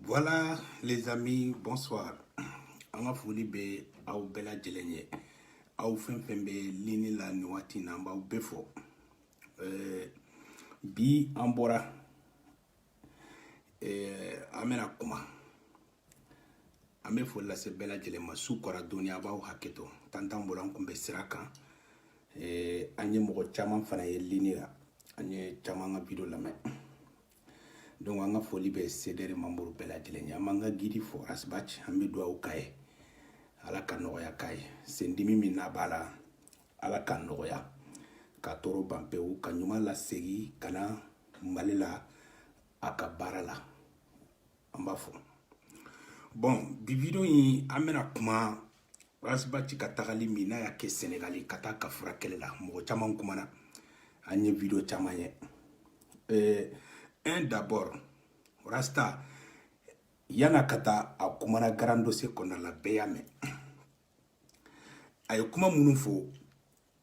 Voilà les amis, bonsoir. An ka foli bɛ aw bɛɛ lajɛlen ye. Aw fɛn fɛn bɛ lini la nin waati in na an b'aw bɛɛ fo. Euh, bi an bɔra euh, an bɛna kuma an bɛ foli lase bɛɛ lajɛlen ma su kora dɔɔni a b'aw hakɛ to tantan bolo an tun bɛ sira kan euh, an ye mɔgɔ caman fana ye lini la an ye caman ka video lamɛn donc an ka foli bɛ sedɛri manburu bɛɛ lajɛlen ye an b'an ka gidi fo rasbati an bɛ dugawu k'a ye ala ka nɔgɔya k'a ye sendimi min n'a b'a la ala ka nɔgɔya ka tɔɔrɔ ban pewu k'a ɲuman lasegin ka na mali la a ka baara la an b'a fo bon bi video in an bɛna kuma rasbati ka tagali min n'a y'a kɛ senegali ka taa a ka furakɛli la mɔgɔ caman kumana an ye video caman ye eh, un d'abord rasta yanni a ka taa a kumana grand dossier kɔnɔna la bɛɛ y'a mɛn a ye kuma minnu fɔ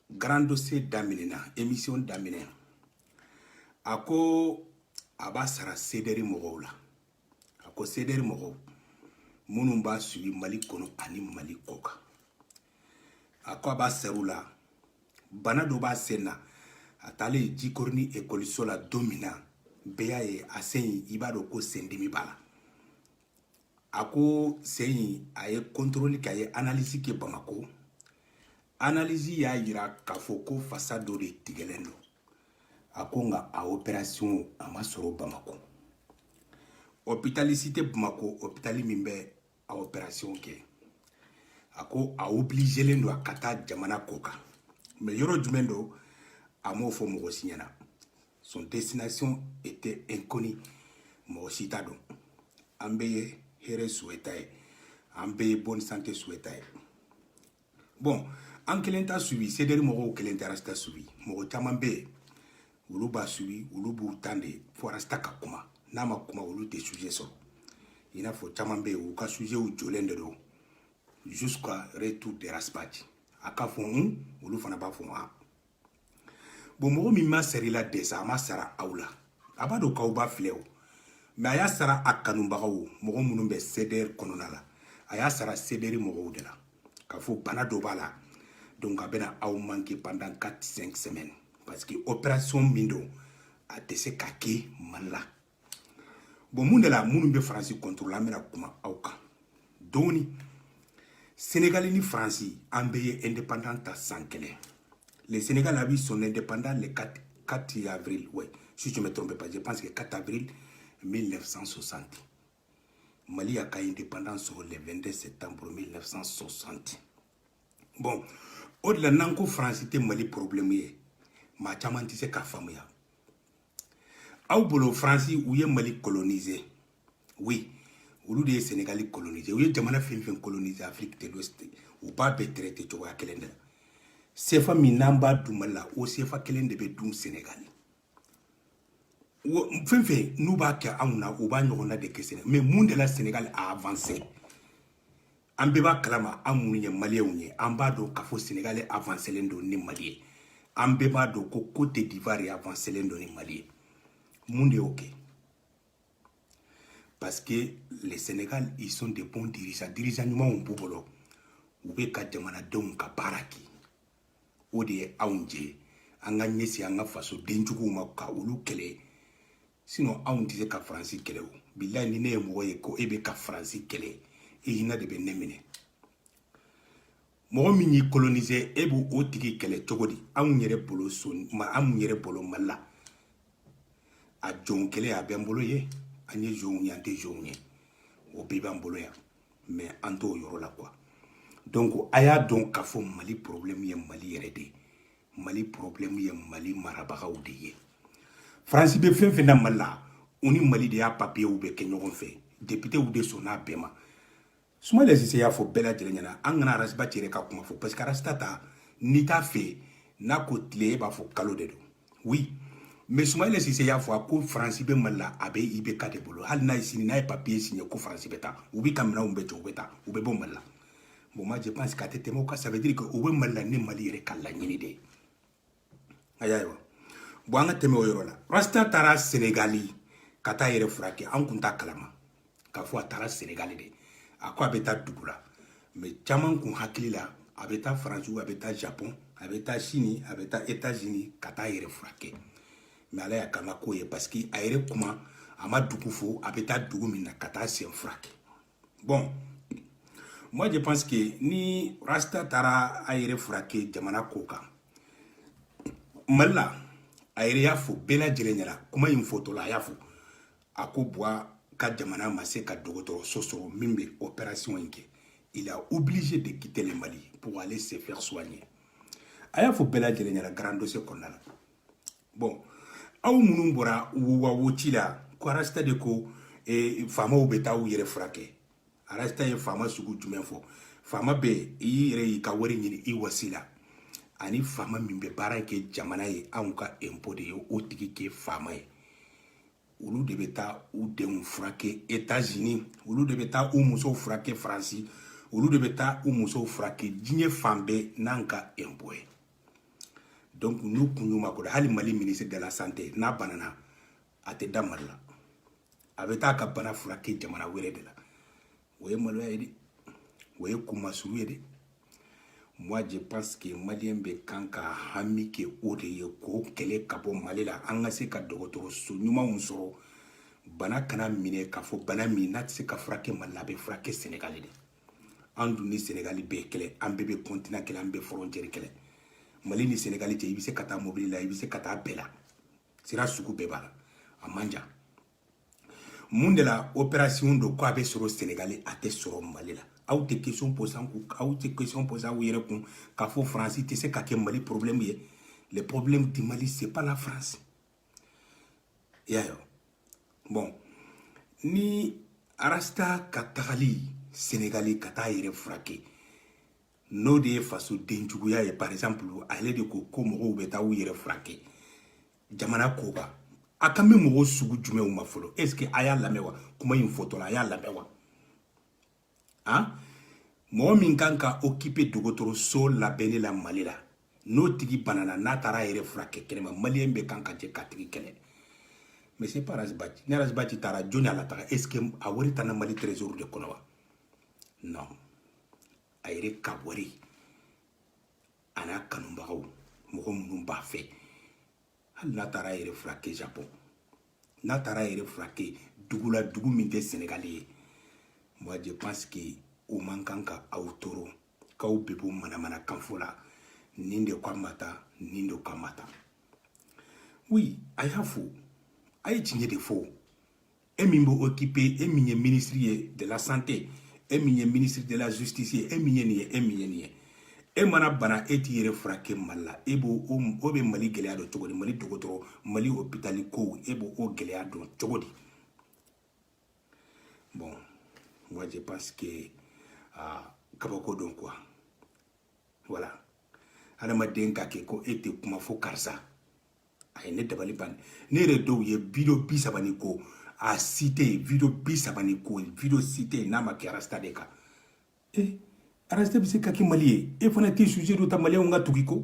grand dossier daminɛna émission daminɛ a ko a b'a sara sedɛri mɔgɔw la a ko sederi mɔgɔw minnu b'a suivi mali kɔnɔ ani mali kɔkan a ko a b'a sara u la bana dɔ b'a sen na a taalen jikɔrɔni ekɔliso la don min na bɛɛ y'a ye a sen in i b'a dɔn ko sendimi b'a la a ko sen in a ye kɔntoroli kɛ a ye analisi kɛ bamako analisi y'a yira k'a fɔ ko fasa dɔ de tigɛlen don a ko nka a operasiyɔn a ma sɔrɔ bamakɔ ɔpitali si tɛ bamakɔ ɔpitali min bɛ a operasiyɔn kɛ a ko a obilizelen don a ka taa jamana kɔkan mais yɔrɔ jumɛn don a m'o fɔ mɔgɔ si ɲɛna son destination était inconnue mɔgɔ si t'a dɔn an bɛɛ ye hɛrɛ suwɛt'a ye an bɛɛ ye bonne santé suwɛt'a ye bon an kelen t'a suivi sederi mɔgɔw kelen tɛ rasta suivi mɔgɔ caman bɛ yen olu b'a suivi olu b'u tan de fo rasta ka kuma n'a ma kuma olu tɛ suje sɔrɔ i n'a fɔ caman bɛ yen u ka sujew jɔlen de don jusqu'à retour de rasbati a k'a fɔ hun olu fana b'a fɔ a bon mɔgɔ min ma sara i la déjà a ma sara aw la a b'a dɔn k'aw b'a filɛ o mais a y'a sara a kanubagaw mɔgɔ minnu bɛ cdr kɔnɔna la a y'a sara cdr mɔgɔw de la k'a fɔ bana dɔ b'a la donc a bɛna aw manke pendant 4 5 semaines parce que opération min don a tɛ se ka kɛ mali la bon mun de la minnu bɛ faransi contre la an bɛna kuma aw kan dɔɔni senegali ni faransi an bɛɛ ye indépendance ta san kelen le sénégal a eu son indépendance le 4, 4 avril ouais si je me trompe pas je pense que 4 avril 1960 mali y'a ka indépendance sɔrɔ le 22 septembre 1960 bon o de la n'an ko faransi tɛ mali problème ye maa caman tɛ se k'a faamuya aw bolo faransi u ye mali kolonize oui olu de ye senegali kolonize u ye jamana fɛn fɛn kolonize afiriki de l'ouest u b'a bɛɛ traite cogoya kelen de la sefa min n'an b'a dun mali la o sefa kelen de bɛ dun senegali fɛn fɛn n'u b'a kɛ anw na u b'a ɲɔgɔnna de kɛ senegali mais mun de la senegali a avanse an bɛɛ b'a kalama an minnu ye maliyɛnw ye an b'a dɔn k'a fɔ senegali avanselen don ni mali ye an bɛɛ b'a dɔn ko côte d'ivoire ye avanselen don ni mali ye mun de y'o kɛ parce que le sénégal ils sont des bons dirigeants dirigeant ɲumanw b'u bolo u bɛ ka jamanadenw ka baara kɛ o de ye anw jɛ an ka ɲɛsin an ka fasoden juguw ma ka olu kɛlɛ sinon anw tɛ se ka faransi kɛlɛ o bilayi ni ne ye mɔgɔ ye ko e bɛ ka faransi kɛlɛ e hinɛ de bɛ ne minɛ mɔgɔ min y'i kolonise e b'o o tigi kɛlɛ cogo di anw yɛrɛ bolo so ma anw yɛrɛ bolo mali la a zon kɛlɛ a b'an bolo yen an ye zonw ye an tɛ zonw ye o bɛɛ b'an bolo yan mais an t'o yɔrɔ la quoi donc a y'a dɔn k'a fɔ mali problème ye mali yɛrɛ de ye mali problème ye mali marabagaw de ye faransi bɛ fɛn fɛn na mali la u ni mali de y'a papiyew bɛɛ kɛ ɲɔgɔn fɛ depitew de sɔnna a bɛɛ ma soumaïla cissé y'a fɔ bɛɛ lajɛlen ɲɛna an kana ras bath yɛrɛ ka kuma fɔ parce que rasta ta n'i t'a fɛ n'a ko tile e b'a fɔ kalo de don oui mais soumaïla cissé y'a fɔ a ko faransi bɛ mali la a bɛ ibk de bolo hali n'a ye sini n'a ye papiye siɲɛ ko faransi bɛ taa u bɛ ka minɛnw bɛɛ jɔ u bɛ taa u bɛ bɔ mali la bon moi je pense k'a tɛ tɛmɛ o kan ça veut dire que o bɛ mali la ni mali yɛrɛ ka laɲini de ye a y'a ye wa bon an ka tɛmɛ o yɔrɔ la rasta taara senegali ka taa yɛrɛ furakɛ an kun t'a kalama k'a fɔ a taara senegali de a ko a bɛ taa dugu la mais caman kun hakili la a bɛ taa faransi a bɛ taa japon a bɛ taa chine a bɛ taa états unis ka taa yɛrɛ furakɛ mais ala y'a k'an ka ko ye parce que a yɛrɛ kuma a ma dugu fɔ a bɛ taa dugu min na ka taa sen furakɛ bon moi je pense que ni rasta taara a yɛrɛ furakɛ jamana kɔkan mali la a yɛrɛ y'a fɔ bɛɛ lajɛlen ɲɛna kuma in fɔtɔ la a y'a fɔ a ko buwa ka jamana ma se ka dɔgɔtɔrɔso sɔrɔ min bɛ opération in kɛ il a obligé de quitter le mali pour aller se faire soigner a y'a fɔ bɛɛ lajɛlen ɲɛna grand dossier kɔnɔna la bɔn aw minnu bɔra wowawo ci la ko arasita de ko e, faamaw bɛ taa u yɛrɛ furakɛ arasita ye faama sugu jumɛn fɔ faama bɛ i yɛrɛ y'i ka wari ɲini i wasi la ani faama min bɛ baara kɛ jamana ye anw ka enpo de ye o tigi kɛ faama ye olu de bɛ taa u denw furakɛ etazini olu de bɛ taa u musow furakɛ faransi olu de bɛ taa u musow furakɛ diɲɛ fan bɛɛ n'an ka enpo ye donc n'u kun y'u makoda hali mali ministre de la santé n'a banana a tɛ da mali la a bɛ taa ka bana furakɛ jamana wɛrɛ de la o ye maloya ye dɛ o ye kunmasuru ye dɛ moi je pense que maliyɛn bɛɛ kan ka hami kɛ o de ye k'o kɛlɛ ka bɔ mali la an ka se ka dɔgɔtɔrɔso ɲumanw sɔrɔ bana kana minɛ k'a fɔ bana min n'a tɛ se ka furakɛ mali la a bɛ furakɛ sɛnɛgali de an dun ni senegali bɛɛ kelen an bɛɛ bɛ kɔntina kelen an bɛɛ fɔrɔncɛri kelen mali ni senegali cɛ i bɛ se ka taa mobili la i bɛ se ka taa bɛɛ la sira sugu bɛɛ b'a la a man jan mun de la operasiyɔn dɔ ko a bɛ sɔrɔ senegali a tɛ sɔrɔ mali la aw tɛ question poser an kun aw tɛ question poser aw yɛrɛ kun k'a fɔ faransi tɛ se ka kɛ mali porobilɛmu ye le problème du mali c'est pas la france i y'a ye bɔn ni arasta ka tagali senegali ka taa yɛrɛ furakɛ n'o de ye faso denjuguya ye par exemple ale de ko ko mɔgɔw bɛ taa u yɛrɛ furakɛ jamana kɔkan a kan bɛ mɔgɔw sugu jumɛnw ma fɔlɔ est ce que a y'a lamɛn wa kuma in fɔtɔla a y'a lamɛn wa an mɔgɔ min kan ka okipe dɔgɔtɔrɔso labɛnni la mali la n'o tigi banana n'a taara a yɛrɛ furakɛ kɛnɛma maliyɛn bɛɛ kan ka jɛ k'a tigi kɛlɛ mais c'est pas arasibaci ni arasibaci taara jɔni y'a lataga est ce que a wari tana mali trésor de kɔnɔ wa non a yɛrɛ ka wari a n'a kanubagaw mɔgɔ minnu b'a fɛ hali n'a taara a yɛrɛ furakɛ japon n'a taara a yɛrɛ furakɛ dugu la dugu min tɛ sɛnɛgali ye moi je pense que o man kan ka aw tɔɔrɔ k'aw bɛ bɔ manamana kan fɔ la nin de k'a ma taa nin de k'a ma taa oui a y'a fɔ a ye tiɲɛ de fɔ e min bɛ okipe e min ye minisiri ye de la santé e min ye ministre de la justice ye e min ye nin ye e min ye nin ye e mana bana e t'i yɛrɛ furakɛ mali la e b'o o bɛ mali gɛlɛya dɔn cogo di mali dɔgɔtɔrɔ mali hopitali kow e b'o o gɛlɛya dɔn cogo di bon moi je pense que uh, kabako don quoi voilà adamaden ka kɛ ko e tɛ kuma fo karisa a ye ne dabali ban ne yɛrɛ dɔw ye video bi saba ni kɔ a si tɛ yen video bi saba ni kɔ video si tɛ yen n'a ma kɛ arasta de kan e rasta bɛ se ka kɛ mali ye e fana tɛ sujɛ dɔ ta maliyɛnw ka tugu i kɔ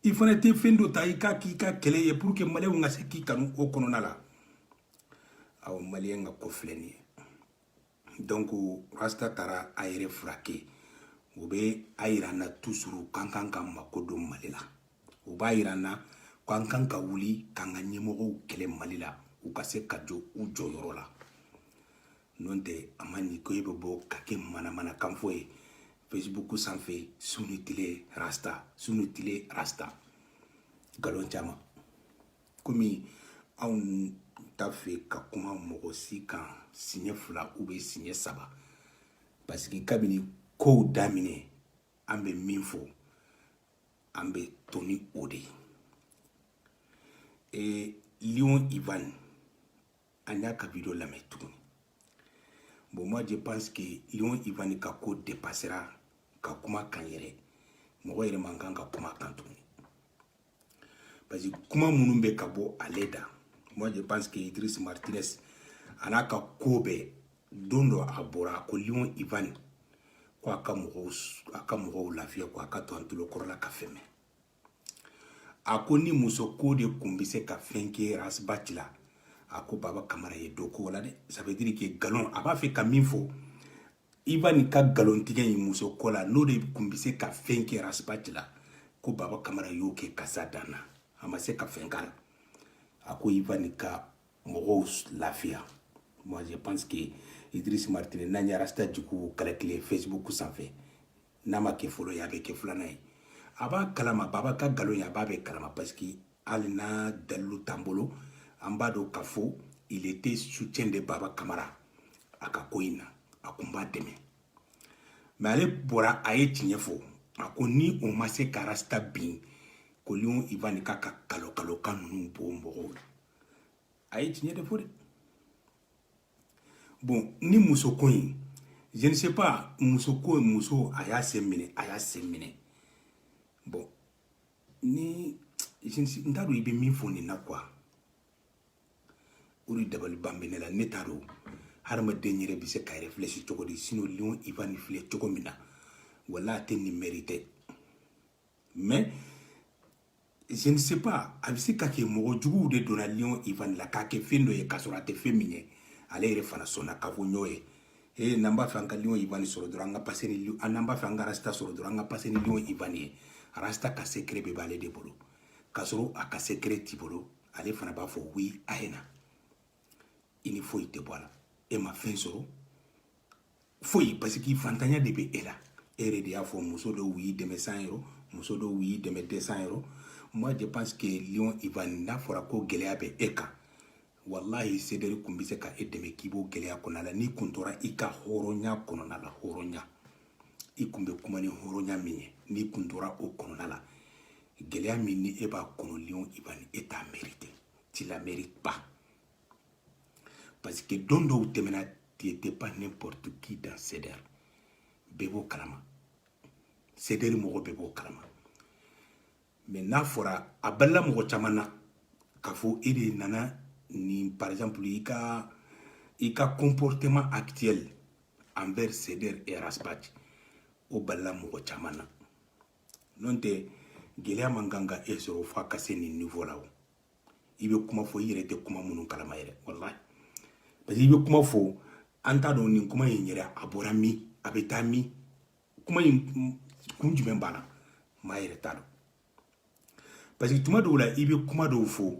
i fana tɛ fɛn dɔ ta i k'a k'i ka kɛlɛ ye pour que maliyɛnw ka se k'i kanu o kɔnɔna la aw maliyɛn ka ko filɛ nin ye donc rasta taara a yɛrɛ furakɛ o bɛ a yira an na toujours k'an kan ka mako don mali la o b'a yira an na ko an kan ka wuli k'an ka ɲɛmɔgɔw kɛlɛ mali la u ka se ka jɔ u jɔyɔrɔ la n'o tɛ a man ɲi ko e bɛ bɔ ka kɛ manamanakan fɔ ye facebook sanfɛ su ni tile rasta su ni tile rasta nkalon caman komi anw t'a fɛ ka kuma mɔgɔ si kan siɲɛ fila ou bien siɲɛ saba parce que kabini kow daminɛ an bɛ min fɔ an bɛ to ni o de ye ee lion ivan an y'a ka video lamɛn tuguni bon moi je pense que lion ivani ka ko dépassera ka kuma kan yɛrɛ mɔgɔ yɛrɛ man kan ka kuma kan tuguni parce que kuma minnu bɛ ka bɔ ale da moi je pense que idris martinez a n'a ka ko bɛɛ don dɔ a bɔra ko lion ivani ko a ka mɔgɔw lafiya ko a ka to an tulokɔrɔla ka fɛn mɛn a ko ni muso ko de kun bɛ se ka fɛn kɛ ras bath la a ko baba kamara ye dɔ k'o la dɛ ça veut dire que nkalon a b'a fɛ ka min fɔ ivani ka nkalontigɛ in muso ko la n'o de kun bɛ se ka fɛn kɛ ras bath la ko baba kamara y'o kɛ k'a se a dan na a ma se ka fɛn k'a la a ko ivani ka mɔgɔw lafiya moi je pense que idris martinez n'an ye rasta jugu calculer facebook sanfɛ n'a ma kɛ fɔlɔ ye a bɛ kɛ filanan ye a b'a kalama baba ka nkalon ye a b'a bɛɛ kalama parce que hali n'a dalilu t'an bolo an b'a dɔn k'a fɔ il était soutien de baba kamara a ka ko in na a kun b'a dɛmɛ mais ale bɔra a ye tiɲɛ fɔ a ko ni o ma se ka rasta bin ko lion ivan k'a ka kalokalokan ninnu bɔ mɔgɔw la a ye tiɲɛ de fɔ dɛ bon ni muso ko in je ne sais pas muso ko muso a y'a sen minɛ a y'a sen minɛ bon ni n t'a dɔn i bɛ min fɔ nin na quoi o de dabaliban bɛ ne la ne t'a dɔn hadamaden yɛrɛ bɛ se ka réfléchir cogo di sinon lion ivani filɛ cogo min na wala a tɛ nin mériter mais je ne sais pas a bɛ se ka kɛ mɔgɔ juguw de donna lion ivan la k'a kɛ fɛn dɔ ye k'a sɔrɔ a tɛ fɛn min ye ale yɛrɛ fana sɔnna k'a fɔ n y'o ye ee n'an b'a fɛ an ka lion ivan sɔrɔ dɔrɔn an ka passer ni n'an b'a fɛ an ka rasta sɔrɔ dɔrɔn an ka passer ni lion ivan ye rasta ka secret bɛɛ b'ale de bolo k'a sɔrɔ a ka secret t'i bolo ale fana b'a fɔ oui a ye na i ni foyi tɛ bɔ a la e ma fɛn sɔrɔ foyi parce que fantanya de bɛ e la e yɛrɛ de y'a fɔ muso dɔw y'i dɛmɛ cent euros muso dɔw y'i dɛmɛ deux cents euros moi je pense que lion ivan n'a fɔra ko gɛlɛya bɛ e kan walahi CDR kun bɛ se ka e dɛmɛ k'i b'o gɛlɛya kɔnɔna la n'i kun tora i ka hɔrɔnya kɔnɔna la hɔrɔnya i kun bɛ kuma ni hɔrɔnya min ye n'i kun tora o kɔnɔna la gɛlɛya min ni e b'a kɔnɔ lion ivan e t'a mériter tu la mérites pas parce que don dɔw tɛmɛna tu n'étais pas n'importe qui dans CDR bɛɛ b'o kalama CDR mɔgɔ bɛɛ b'o kalama mais n'a fɔra a balila mɔgɔ caman na k'a fɔ e de nana ni par exemple i ka i ka comportement actuel envers CDR et Ras Bath o balila mɔgɔ caman na n'o tɛ gɛlɛya man kan ka e sɔrɔ f'a ka se nin niveau la o i bɛ kuma fɔ i yɛrɛ tɛ kuma minnu kalama yɛrɛ walahi parce que i bɛ kuma fɔ an t'a dɔn nin kuma in yɛrɛ a bɔra min a bɛ taa min kuma in kun jumɛn b'a la maa yɛrɛ t'a dɔn parce que tuma dɔw la i bɛ kuma dɔw fɔ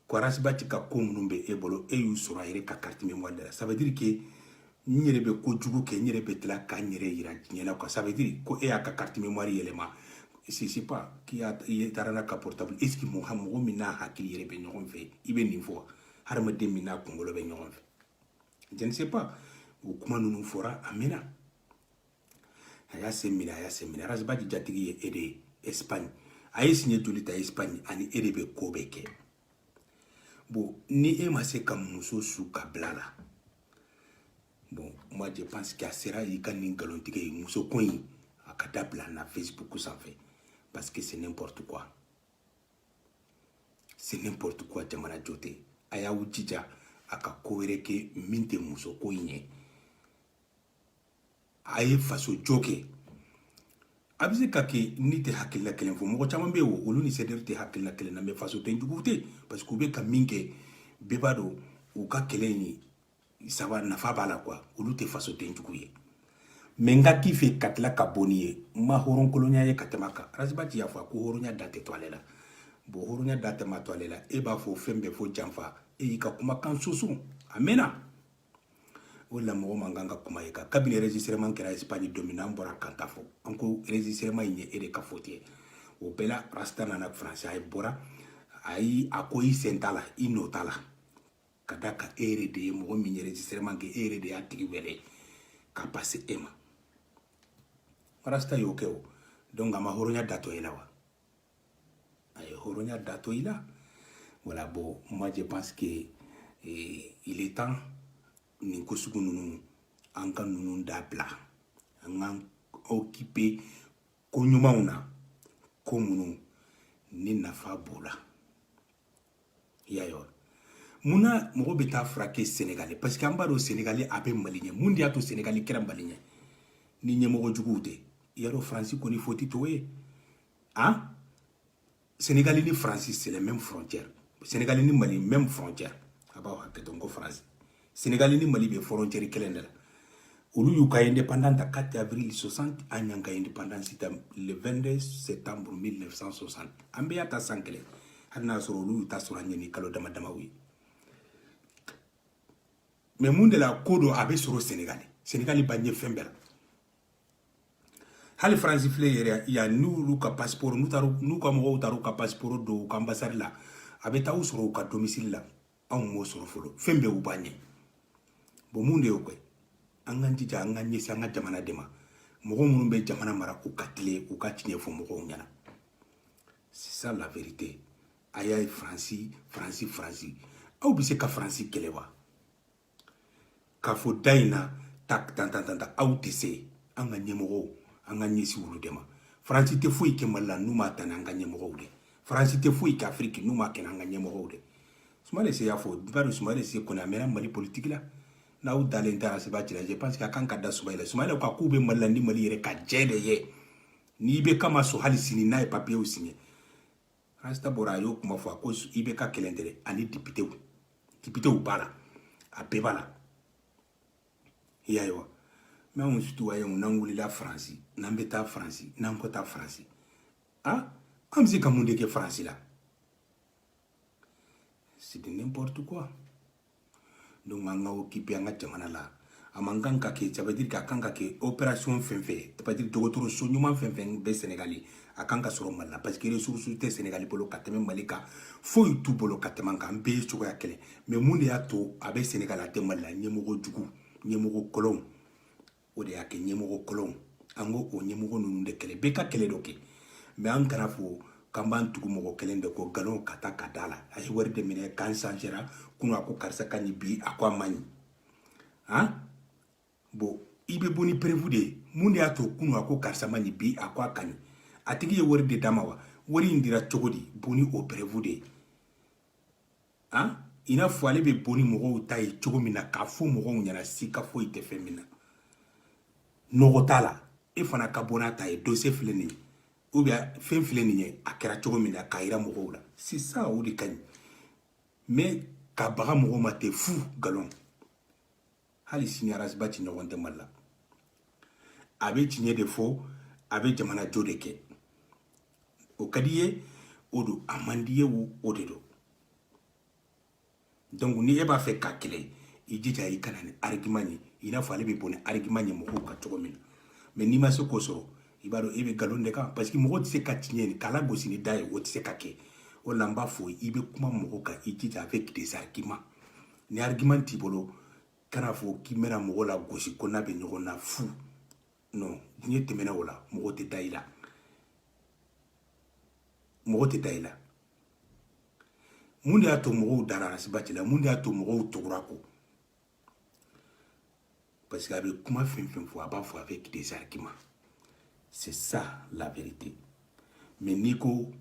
ko Ras Bath ka ko minnu bɛ e bolo e y'u sɔrɔ a yɛrɛ ka carte mémoire de la ça veut dire que n yɛrɛ bɛ ko jugu kɛ n yɛrɛ bɛ tila ka n yɛrɛ yira diɲɛ la quoi ça veut dire ko e y'a ka carte mémoire yɛlɛma c'est c'est pas k'i y'a i taara n'a ka portable est ce que mɔgɔ mɔgɔ min n'a hakili yɛrɛ bɛ ɲɔgɔn fɛ i bɛ nin fɔ hadamaden min n'a kunkolo bɛ ɲɔgɔn fɛ je ne sais pas o kuma ninnu fɔra a mɛnna a y'a sen minɛ a y'a sen minɛ Ras Bath jatigi ye e de ye espagne a ye siɲɛ joli ta espagne ani e de bɛ ko bɛɛ kɛ bon ni e ma se ka muso su ka bila la bon moi je pense que a sera i ka nin nkalontigɛ ye muso ko in a ka dabila na facebook sanfɛ parce que c'est n'importe quoi c'est n'importe quoi jamana jɔ tɛ a y'aw jija a ka ko wɛrɛ kɛ min tɛ muso ko in ye a ye faso jɔ kɛ a bɛ se ka kɛ ni tɛ hakilila kelen fɔ mɔgɔ caman bɛ yen olu ni CDR tɛ hakilila kelen na mais fasoden jugu tɛ parce que u bɛ ka min kɛ bɛɛ b'a dɔn u ka kɛlɛ in ça va nafa b'a la quoi olu tɛ fasoden jugu ye mais n ka k'i fɛ ka tila ka bɔ n'i ye n ma hɔrɔnkolonya ye ka tɛmɛ a kan Ras Bath y'a fɔ ko hɔrɔnya da tɛ to ale la bon hɔrɔnya da tɛmɛ to ale la e b'a fɔ fɛn bɛɛ fɔ janfa e y'i ka kumakan soso a mɛnna o la mɔgɔ man kan ka kuma e kan kabini enregistrement kɛra espagne don min na an bɔra k'an ta fɔ an ko enregistrement in ye e de ka faute ye o bɛɛ la rasta nana france a ye bɔra a yi a ko i sen t'a la i nɔ t'a la ka d'a kan e yɛrɛ de ye mɔgɔ min ye enregistrement kɛ e yɛrɛ de y'a tigi wele ka passer e ma rasta y'o kɛ o donc a ma hɔrɔnya da to e la wa a ye hɔrɔnya da to i la voilà bon moi je pense que eh, il est temps nin ko sugu ninnu an ka ninnu dabila an k'an okipe ko ɲumanw na ko minnu ni nafa b'o la i y'a ye wa mun na mɔgɔ bɛ taa furakɛ senegali parce que an b'a dɔn senegali a bɛ mali ɲɛ mun de y'a to senegali kɛra mali ɲɛ ni ɲɛmɔgɔ juguw tɛ i y'a dɔn faransi kɔni foti t'o ye han senegali ni faransi c'est la même frontière senegali ni mali même frontière a b'aw hakɛ to n ko faransi senegali ni mali bɛ forontɛri kelen de la olu y'u ka indépendance ta 4 avril 60 an y'an ka indépendance ta le 22 septembre 1960 an bɛɛ y'a ta san kelen hali n'a sɔrɔ olu y'u ta sɔrɔ an ɲɛ ni kalo dama damaw ye mais mun de la ko don a bɛ sɔrɔ senegali senegali b'an ɲɛ fɛn bɛɛ la hali faransi filɛ yɛrɛ yan n'olu ka pasiporo n'u ka mɔgɔw taara u ka pasiporo don u ka anbasadi la a bɛ taa u sɔrɔ u ka domisili la anw m'o sɔrɔ fɔlɔ fɛn bɛɛ u b'an ɲɛ bon mun de y'o kɛ an k'an jija an ka ɲɛsin an ka jamana de ma mɔgɔ minnu bɛ jamana mara u ka tilen u ka tiɲɛ fɔ mɔgɔw ɲɛna c'est ça la vérité a y'a ye faransi faransi faransi aw bɛ se ka faransi kɛlɛ wa k'a fɔ da in na ta tan tan tan ta aw tɛ se an ka ɲɛmɔgɔw an ka ɲɛsin olu de ma faransi tɛ foyi kɛ mali la n'u m'a ta n'an ka ɲɛmɔgɔw de faransi tɛ foyi kɛ afiriki n'u m'a kɛ n'an ka ɲɛmɔgɔw de sumayila sise y'a fɔ bari sumayila sise kɔni a mɛnna mali politiki la n'aw dalen tɛ ras bath la je pense que a kan ka da sumayila la sumayila ko k'u bɛ mali la ni mali yɛrɛ ka jɛn de ye n'ibeka ma sɔn hali sini n'a ye papiyew siɲe rasita bɔra a y'o kuma fɔ a ko ibeka kelen tɛ ani dipitew dipitew b'a la a bɛɛ b'a la i y'a ye wa mais anw citoyens n'an wulila faransi n'an bɛ taa faransi n'an ko taa faransi a ah, an bɛ se ka mun de kɛ faransi la c'est de n'importe quoi donc an ka okipe an ka jamana la a man kan ka kɛ ça veut dire que a kan ka kɛ operation fɛn fɛn ça veut dire dɔgɔtɔrɔso ɲuman fɛn fɛn bɛ sɛnɛgali a kan ka sɔrɔ mali la parce que ressource tɛ sɛnɛgali bolo ka tɛmɛ mali kan foyi t'u bolo ka tɛmɛ an kan an bɛɛ ye cogoya kelen mais mun de y'a to a bɛ sɛnɛgali a tɛ mali la ɲɛmɔgɔ jugu ɲɛmɔgɔ kolonw o de y'a kɛ ɲɛmɔgɔ kolon an k'o ɲɛmɔgɔ ninnu de kɛlɛ bɛɛ ka kɛlɛ dɔ kɛ mais an kana fɔ k'an b'an tugu mɔgɔ kelen de kɔ nkalon ka taa ka da la a ye wari de minɛ k'a sanzera kunu a ko karisa ka ɲi bi a ko a man ɲi han bon i bɛ bɔ ni preuve de ye mun de y'a to kunu a ko karisa man ɲi bi a ko a ka ɲi a tigi ye wari de d'a ma wa wari in dira cogo di bɔ ni o preuve de ye han i n'a fɔ ale bɛ bɔ ni mɔgɔw ta ye cogo min na k'a fɔ mɔgɔw ɲɛna siga foyi tɛ fɛn min na nɔgɔ t'a la e fana ka bɔ n'a ta ye dossier filɛ nin ye ou bien fɛn filɛ nin ye a kɛra cogo min na k'a yira mɔgɔw la sisan o de ka ɲi mais ka baga mɔgɔw ma ten fu nkalon hali sini arasibati ɲɔgɔn tɛ mali la a bɛ tiɲɛ de fɔ a bɛ jamana jɔ de kɛ o ka di ye o don a man di ye o de don donc ni e b'a fɛ k'a kɛlɛ i jija i ka na ni argument ye i n'a fɔ ale bɛ bɔ ni argument ye mɔgɔw kan cogo min na mais n'i ma se k'o sɔrɔ i b'a dɔn e bɛ nkalon de kan parce que mɔgɔ tɛ se ka tiɲɛ nin k'a lagosi ni da ye o tɛ se ka kɛ o la n b'a fɔ i bɛ kuma mɔgɔ kan i jija avec des arguments ni argument t'i bolo kana fɔ k'i bɛna mɔgɔ lagosi ko n'a bɛ ɲɔgɔn na fu non diɲɛ tɛmɛna o la mɔgɔ tɛ da i la mɔgɔ tɛ da i la mun de y'a to mɔgɔw dara arasibati la mun de y'a to mɔgɔw tugur'a kɔ parce que a bɛ kuma fɛn fɛn fɔ a b'a fɔ avec des arguments c'est ça la vérité mais n'i ko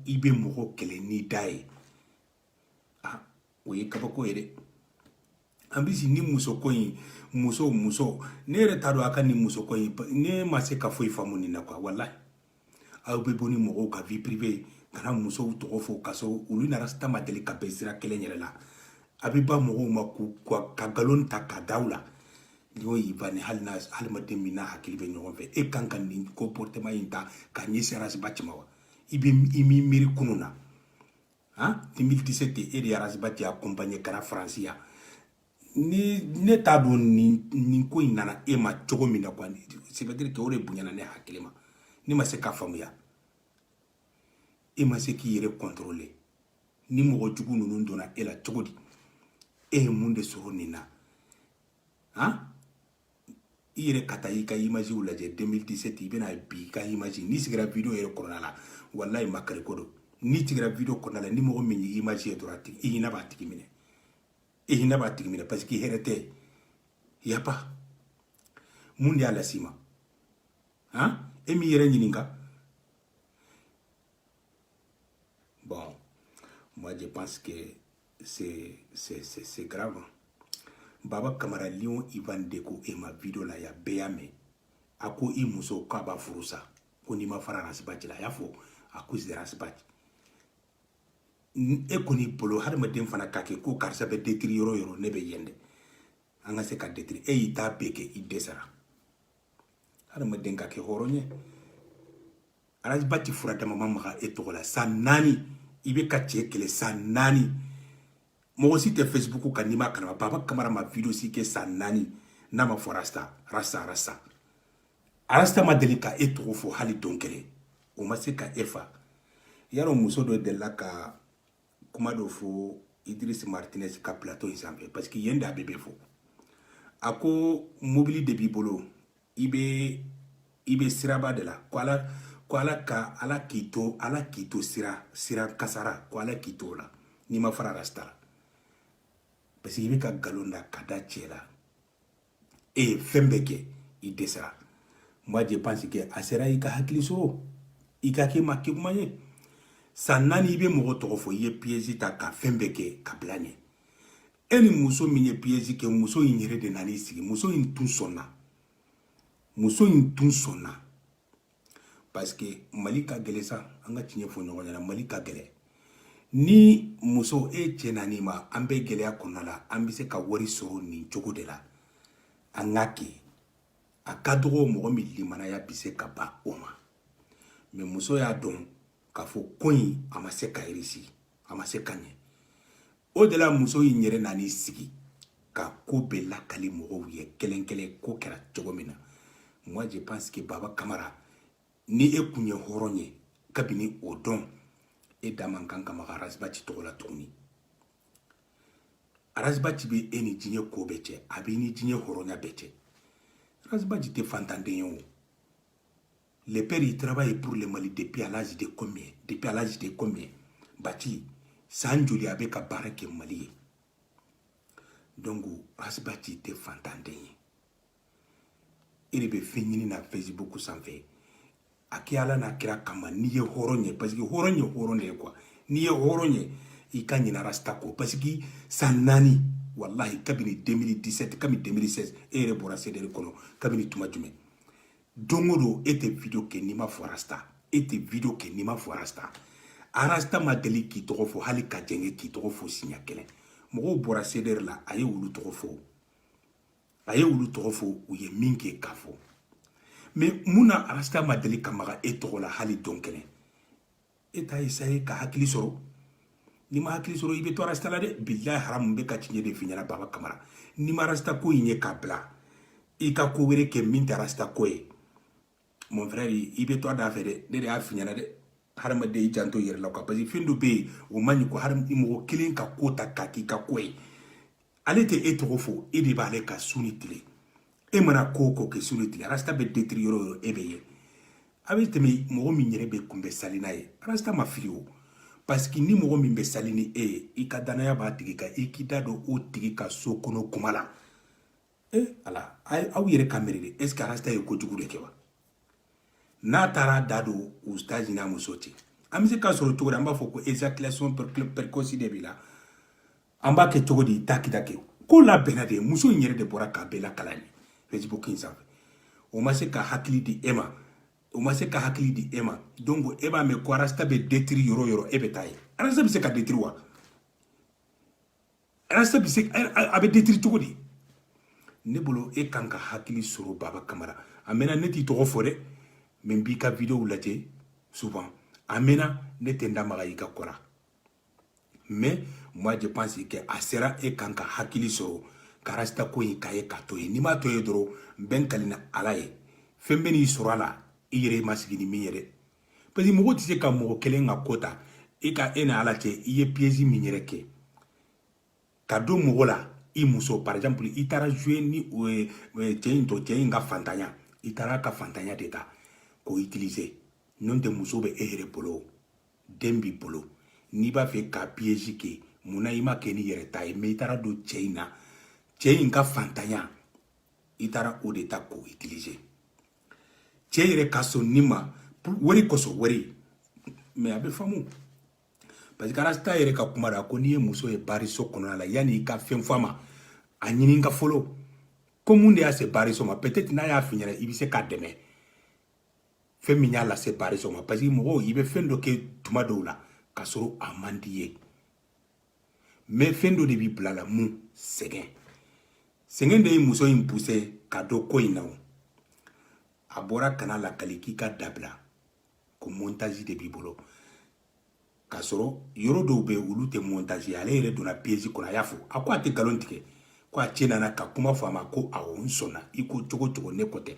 i bɛ mɔgɔ kɛlɛ n'i da ye ah o ye kabako ye dɛ an bɛ si ni musoko in muso muso ne yɛrɛ t'a dɔn a ka nin musoko in ne ma se ka foyi faamu nin na quoi walayi aw bɛ bɔ ni mɔgɔw ka vie privée ka na musow tɔgɔ fɔ ka sɔrɔ olu ni arasta ma deli ka bɛn sira kelen yɛrɛ la a bɛ baga mɔgɔw ma k'u ka nkalon ta ka da u la n'o y'i ba ni hali n'a hadamaden min n'a hakili bɛ ɲɔgɔn fɛ e kan ka nin comportement in ta ka ɲɛsin arasibati ma wa i bɛ i m'i miiri kunun na han 2017 e de ye arasibati accompagné ka na faransi yan ne t'a dɔn nin nin ko in nana e ma cogo min na quoi ça veut dire que o de bonyana ne hakili ma ne ma se k'a faamuya e ma se k'i yɛrɛ contrôler ni mɔgɔ jugu ninnu donna e la cogo di e ye mun de sɔrɔ nin na han i yɛrɛ ka taa i ka imagew lajɛ 2017 i bɛ na bi i ka image n'i sigira video yɛrɛ kɔnɔna la walayi makari ko don n'i sigira video kɔnɔna la ni mɔgɔ min y'i image ye dɔrɔn i hinɛ b'a tigi minɛ i hinɛ b'a tigi minɛ parce que hɛrɛ tɛ y a pas mun de y'a las'i ma han e m'i yɛrɛ ɲininka Bon, moi je pense que c'est grave. Baba Kamara Lion Ivan de ko e ma vidéo la yan, bɛɛ y'a mɛn. A ko i muso k'a b'a furu sa ko n'i ma fara rasibati la a y'a fɔ à cause de rasibati e kɔni bolo hadamaden fana k'a kɛ ko karisa bɛ détruire yɔrɔ yɔrɔ ne bɛ yen dɛ an ka se ka détruire e y'i ta bɛɛ kɛ i dɛsɛra hadamaden ka kɛ hɔrɔn ye ras bath fura da ma ma maga e tɔgɔ la san naani i bɛ ka cɛ kɛlɛ san naani mɔgɔ si tɛ facebook kan n'i ma kalama baba kamara ma video si kɛ san naani n'a ma fɔ rasta rasta rasta rasta ma deli ka e tɔgɔ fɔ hali don kelen o ma se ka e fa yarɔ muso dɔ delila ka kuma dɔ fɔ idriss martinez ka plateau in sanfɛ parce que yen de a bɛɛ bɛ fɔ a ko mobili de b'i bolo i bɛ i bɛ siraba de la ko ala ko ala ka ala k'i to ala k'i to sira sira kasara ko ala k'i to o la n'i ma fara rasta la parce que i bɛ ka nkalon da ka da cɛ la e ye fɛn bɛɛ kɛ i dɛsɛra moi je pense que a sera i ka hakili sɔrɔ i ka kɛ maa kegunman ye san naani i bɛ mɔgɔ tɔgɔ fɔ i ye piège ta ka fɛn bɛɛ kɛ ka bila ɲɛ e ni muso min ye piège kɛ muso in yɛrɛ de nan'i sigi muso in tun sɔnna muso in tun sɔnna parce que mali ka gɛlɛn sa an ka tiɲɛ fɔ ɲɔgɔn ɲɛna mali ka gɛlɛn ni muso e cɛ nan'i ma an bɛ gɛlɛya kɔnɔna la an bɛ se ka wari sɔrɔ nin cogo de la an k'a kɛ a ka dɔgɔ mɔgɔ min limanaya bɛ se ka ban o ma mais muso y'a dɔn k'a fɔ ko in a ma se ka réussir a ma se ka ɲɛ o de la muso in yɛrɛ nan'i sigi ka ko bɛɛ lakali mɔgɔw ye kelen kelen ko kɛra cogo min na moi je pense que baba kamara ni e kun ye hɔrɔn ye kabini o don e da man kan ka maga ras bath tɔgɔ la tuguni ras bath bɛ e ni diɲɛ ko bɛɛ cɛ a b'i ni diɲɛ hɔrɔnya bɛɛ cɛ ras bath tɛ fantanden ye o le père il travaille pour le mali depuis à l'âge de combien depuis à l'âge de combien bati san joli a bɛ ka baara kɛ mali ye donc ras bath tɛ fantanden ye e de bɛ fɛn ɲini na facebook sanfɛ a kɛ ala n'a kira kama n'i ye hɔrɔn ye parce que hɔrɔn ye hɔrɔn de ye quoi n'i ye hɔrɔn ye i ka ɲinɛ rasta kɔ parce que san naani walahi kabini 2017 kabini 2016 e yɛrɛ bɔra cdr kɔnɔ kabini tuma jumɛn don o don e tɛ video kɛ n'i ma fɔ rasta e tɛ video kɛ n'i ma fɔ rasta rasta ma deli k'i tɔgɔ fɔ hali ka jɛngɛ k'i tɔgɔ fɔ siɲɛ kelen mɔgɔw bɔra cdr la a ye olu tɔgɔ fɔ a ye olu tɔgɔ fɔ u ye min kɛ k'a fɔ mais mun na rasta ma deli ka maga e tɔgɔ la hali don kelen e t'a essayer ka hakili sɔrɔ n'i ma hakili sɔrɔ i bɛ to rasta la dɛ bilayi haramu bɛ ka tiɲɛ de f'i ɲɛna baba kamara n'i ma rasta ko in ye k'a bila i ka ko wɛrɛ kɛ min tɛ rasta ko ye mon frère i bɛ to a da fɛ dɛ ne de y'a f'i ɲɛna dɛ hadamaden i janto i yɛrɛ la quoi parce que fɛn dɔ bɛ yen o man ɲi ko hadamaden mɔgɔ kelen ka ko ta k'a k'i ka ko ye ale tɛ e tɔgɔ fɔ e de b'ale ka su ni tile e mana ko o ko kɛ su ni tile rasta bɛ détruire yɔrɔ o yɔrɔ e bɛ ye a bɛ tɛmɛ mɔgɔ min yɛrɛ bɛ kunbɛ sali n'a ye rasta ma fili o parce que ni mɔgɔ min bɛ sali ni e ye i ka danaya b'a tigi kan i k'i da don o tigi ka so kɔnɔ kuma la e ala aw yɛrɛ ka miiri de est ce que rasta ye kojugu de kɛ wa n'a taara da don ustazi n'a muso cɛ an bɛ se k'a sɔrɔ cogo di an b'a fɔ ko éjaculation précoce de b'i la an b'a kɛ cogo di taa k'i da kɛ ko labɛnna de muso in yɛrɛ de bɔra k'a bɛɛ lakali an ye facebook in sanfɛ o ma se ka hakili di e ma o ma se ka hakili di e ma donc e b'a mɛn ko rasta bɛ détruire yɔrɔ o yɔrɔ e bɛ taa yen rasta bɛ se ka détruire wa rasta bɛ se a bɛ détruire cogo di ne bolo e kan ka hakili sɔrɔ baba kamara a mɛnna ne t'i tɔgɔ fɔ dɛ mais n b'i ka videow lajɛ souvent a mɛnna ne tɛ n da maga i ka ko ra mais moi je pense que a sera e kan ka hakili sɔrɔ ka rasta ko in k'a ye k'a to yen n'i m'a to yen dɔrɔn n bɛ n kali ni ala ye fɛn bɛn'i sɔrɔ a la i yɛrɛ i ma sigi ni min ye dɛ parce que mɔgɔ tɛ se ka mɔgɔ kelen ka ko ta i ka e ni ala cɛ i ye piège min yɛrɛ kɛ ka don mɔgɔ la i muso par exemple i taara jouer ni o ye cɛ in tɔ cɛ in ka fantanya i taara a ka fantanya de ta k'o utiliser n'o tɛ muso bɛ e yɛrɛ bolo den b'i bolo n'i b'a fɛ ka piège kɛ mun na i m'a kɛ n'i yɛrɛ ta ye mais i taara don cɛ in na cɛ in ka fantanya i taara o de ta k'o utiliser cɛ yɛrɛ ka sɔn nin ma wari kosɔn wari mais a bɛ faamu parce que rasta yɛrɛ ka kuma la ko n'i ye muso ye bariso kɔnɔna la yanni i ka fɛn fɔ a ma a ɲininka fɔlɔ ko mun de y'a se bariso ma peut-être n'a y'a f'i ɲɛ na i bɛ se k'a dɛmɛ fɛn min y'a lase bariso ma parce que mɔgɔw i bɛ fɛn dɔ kɛ tuma dɔw la k'a sɔrɔ a man d'i ye mais fɛn dɔ de b'i bil'a la mun sɛgɛn sɛgɛn de ye muso in pousser ka don ko in na o a bɔra ka na a lakali k'i k'a dabila ko montage de b'i bolo k'a sɔrɔ yɔrɔ dɔw bɛ olu tɛ montage ale yɛrɛ donna piège kɔnɔ a y'a fɔ a ko a tɛ nkalon tigɛ ko a cɛ nana ka kuma fɔ a ma ko awɔ n sɔnna i ko cogo o cogo ne kɔ tɛ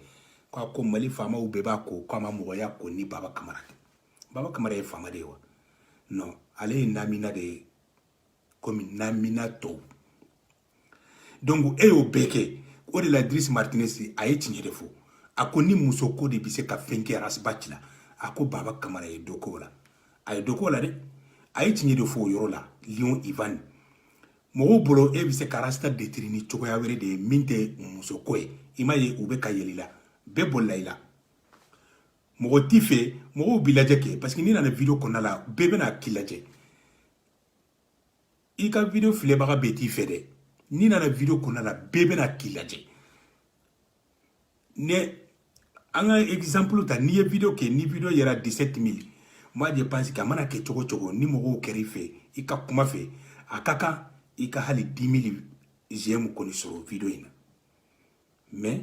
ko a ko mali faamaw bɛɛ b'a kɔ ko a ma mɔgɔ ye ko ni baba kamara tɛ baba kamara ye faama de ye wa non ale ye namina de ye komi namina tɔw donc e y'o bɛɛ kɛ o de la idris martinez a ye tiɲɛ de fɔ a ko ni muso ko de bɛ se ka fɛn kɛ ras bath la a ko baba kamara ye dɔ k'o la a ye dɔ k'o la dɛ a ye tiɲɛ de fɔ o yɔrɔ la lion ivan mɔgɔw bolo e bɛ se ka rasta détruire ni cogoya wɛrɛ de ye min tɛ muso ko ye i m'a ye u bɛ ka yɛlɛ i la bɛɛ bolila i la mɔgɔ t'i fɛ mɔgɔw b'i lajɛ kɛ parce que n'i nana video kɔnɔna la bɛɛ bɛna k'i lajɛ i ka video filɛbaga bɛɛ t'i fɛ dɛ n'i nana video kɔnɔna la bɛɛ bɛ na k'i lajɛ ne an ka exemple ta n'i ye video kɛ ni video yera 17 mille moi je pense que a mana kɛ cogo cogo ni mɔgɔw kɛra i fɛ i ka kuma fɛ a ka kan i ka hali 10 mille j'aime kɔni sɔrɔ video in na mais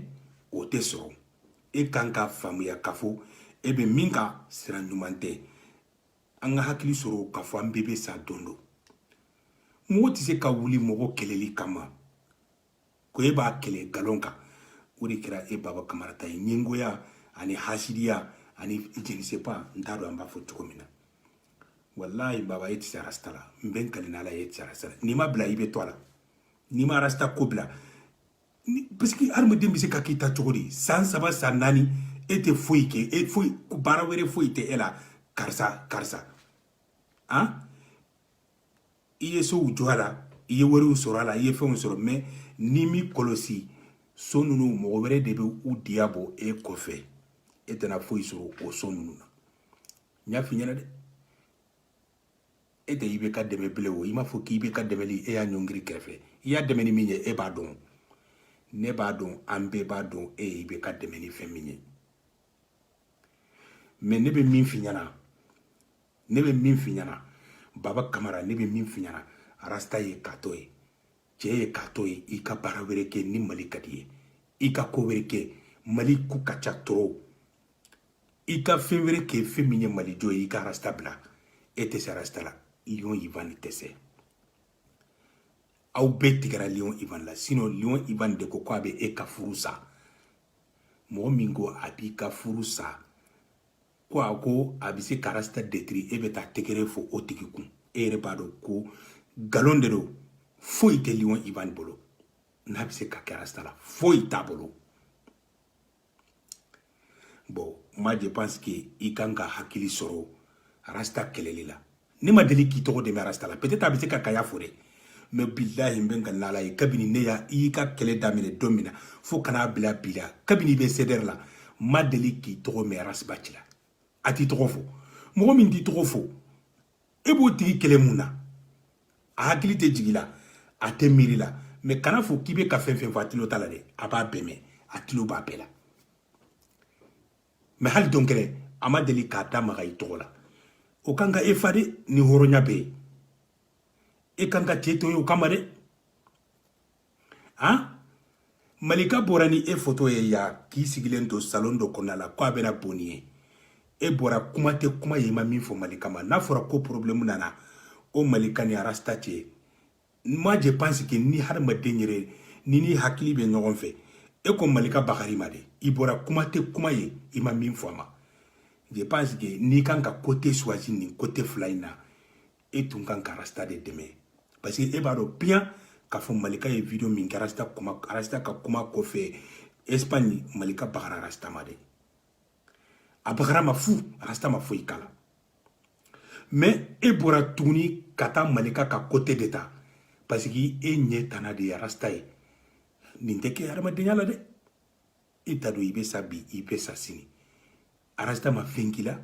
o tɛ sɔrɔ e kan ka faamuya k'a fɔ e bɛ min kan sira ɲuman tɛ an ka hakili sɔrɔ k'a fɔ an bɛɛ bɛ sa don dɔ mɔgɔ tɛ se ka wuli mɔgɔ kɛlɛli kama ko e b'a kɛlɛ galon kan o de kɛra e baba kamara ta ye ɲɛngoya ani hasidiya ani je ne sais pas n t'a dɔn an b'a fɔ cogo min na walayi baba e tɛ se rasta la n bɛ n kali n'ala ye e tɛ se rasta la n'i m'a bila i bɛ to a la n'i ma rasta ko bila ni parce que hadamaden bɛ se ka k'i ta cogo di san saba san naani e tɛ foyi kɛ e foyi baara wɛrɛ foyi tɛ e la karisa karisa an i ye sow jɔ a la i ye wariw sɔrɔ a la i ye fɛnw sɔrɔ mais n'i m'i kɔlɔsi so ninnu mɔgɔ wɛrɛ de bɛ u diya bɔ e kɔfɛ e tɛna foyi sɔrɔ o so ninnu na n y'a f'i ɲɛna dɛ e tɛ i bɛ k'a dɛmɛ bilen o i m'a fɔ k'i bɛ ka dɛmɛli e y'a ɲɔngiri kɛrɛfɛ i y'a dɛmɛ ni min ye e b'a dɔn ne b'a dɔn an bɛɛ b'a dɔn e i bɛ k'a dɛmɛ ni fɛn min ye mais ne bɛ min f'i ɲɛna baba kamara ne bɛ min f'i ɲɛna rasta ye k'a to yen cɛ ye k'a to yen i ka baara wɛrɛ kɛ ni mali ka d'i ye i ka ko wɛrɛ kɛ mali ko ka ca trop i ka fɛn wɛrɛ kɛ fɛn min ye mali jɔ ye i ka rasta bila e tɛ se rasta la lion ivan tɛ se aw bɛɛ tigɛra lion ivan la sinon lion ivan de ko ko a bɛ e ka furu sa mɔgɔ min ko a b'i ka furu sa ko a ko a bɛ se ka rasta détruire e bɛ taa tɛgɛrɛ fɔ o tigi kun e yɛrɛ b'a dɔn ko nkalon de don foyi tɛ lion ivan bolo n'a bɛ se ka kɛ rasta la foyi t'a bolo bon moi je pense que i kan ka hakili sɔrɔ rasta kɛlɛli la ne ma deli k'i tɔgɔ de mɛn rasta la peut-être a bɛ se ka k'a y'a fɔ dɛ mais bilahi n bɛ n kali n'ala ye kabini ne y'a i y'i ka kɛlɛ daminɛ don min na fo ka n'a bila bi la kabini i bɛ cdr la ma deli k'i tɔgɔ mɛn ras bath la a t'i tɔgɔ fɔ mɔgɔ min t'i tɔgɔ fɔ e b'o tigi kɛlɛ mun na a hakili tɛ jigi la a tɛ miiri la mais kan'a fɔ k'i bɛ ka fɛn fɛn fɔ a tulo t'a la dɛ a b'a bɛɛ mɛn a tulo b'a bɛɛ la mais hali don kelen a ma deli k'a da maga i tɔgɔ la o kan ka e fa dɛ ni hɔrɔnya bɛ yen e kan ka cɛ to yen o kama dɛ han malika bɔra ni e foto ye yan k'i sigilen to salon dɔ kɔnɔna la ko a bɛna boni ye e bɔra kuma tɛ kuma ye i ma min fɔ malika ma n'a fɔra ko problème nana o malika ni rasta cɛ moi je pense que ni hadamaden yɛrɛ ni ni hakili bɛ ɲɔgɔn fɛ e ko malika bagara i ma dɛ i bɔra kuma tɛ kuma ye i ma min fɔ a ma je pense que n'i kan ka côté choisi nin côté fila in na e tun kan ka rasta de dɛmɛ parce que e b'a dɔn bien k'a fɔ malika ye video min kɛ rasta kuma rasta ka kuma kɔfɛ espagne malika bagara rasta ma dɛ a bagara ma fu rasta ma foyi k'a la mais e bɔra tuguni ka taa malika ka côté de ta parce que e ɲɛ tana de ye rasta ye nin tɛ kɛ hadamadenya la dɛ e t'a dɔn i bɛ sa bi i bɛ sa sini rasta ma fɛn k'i la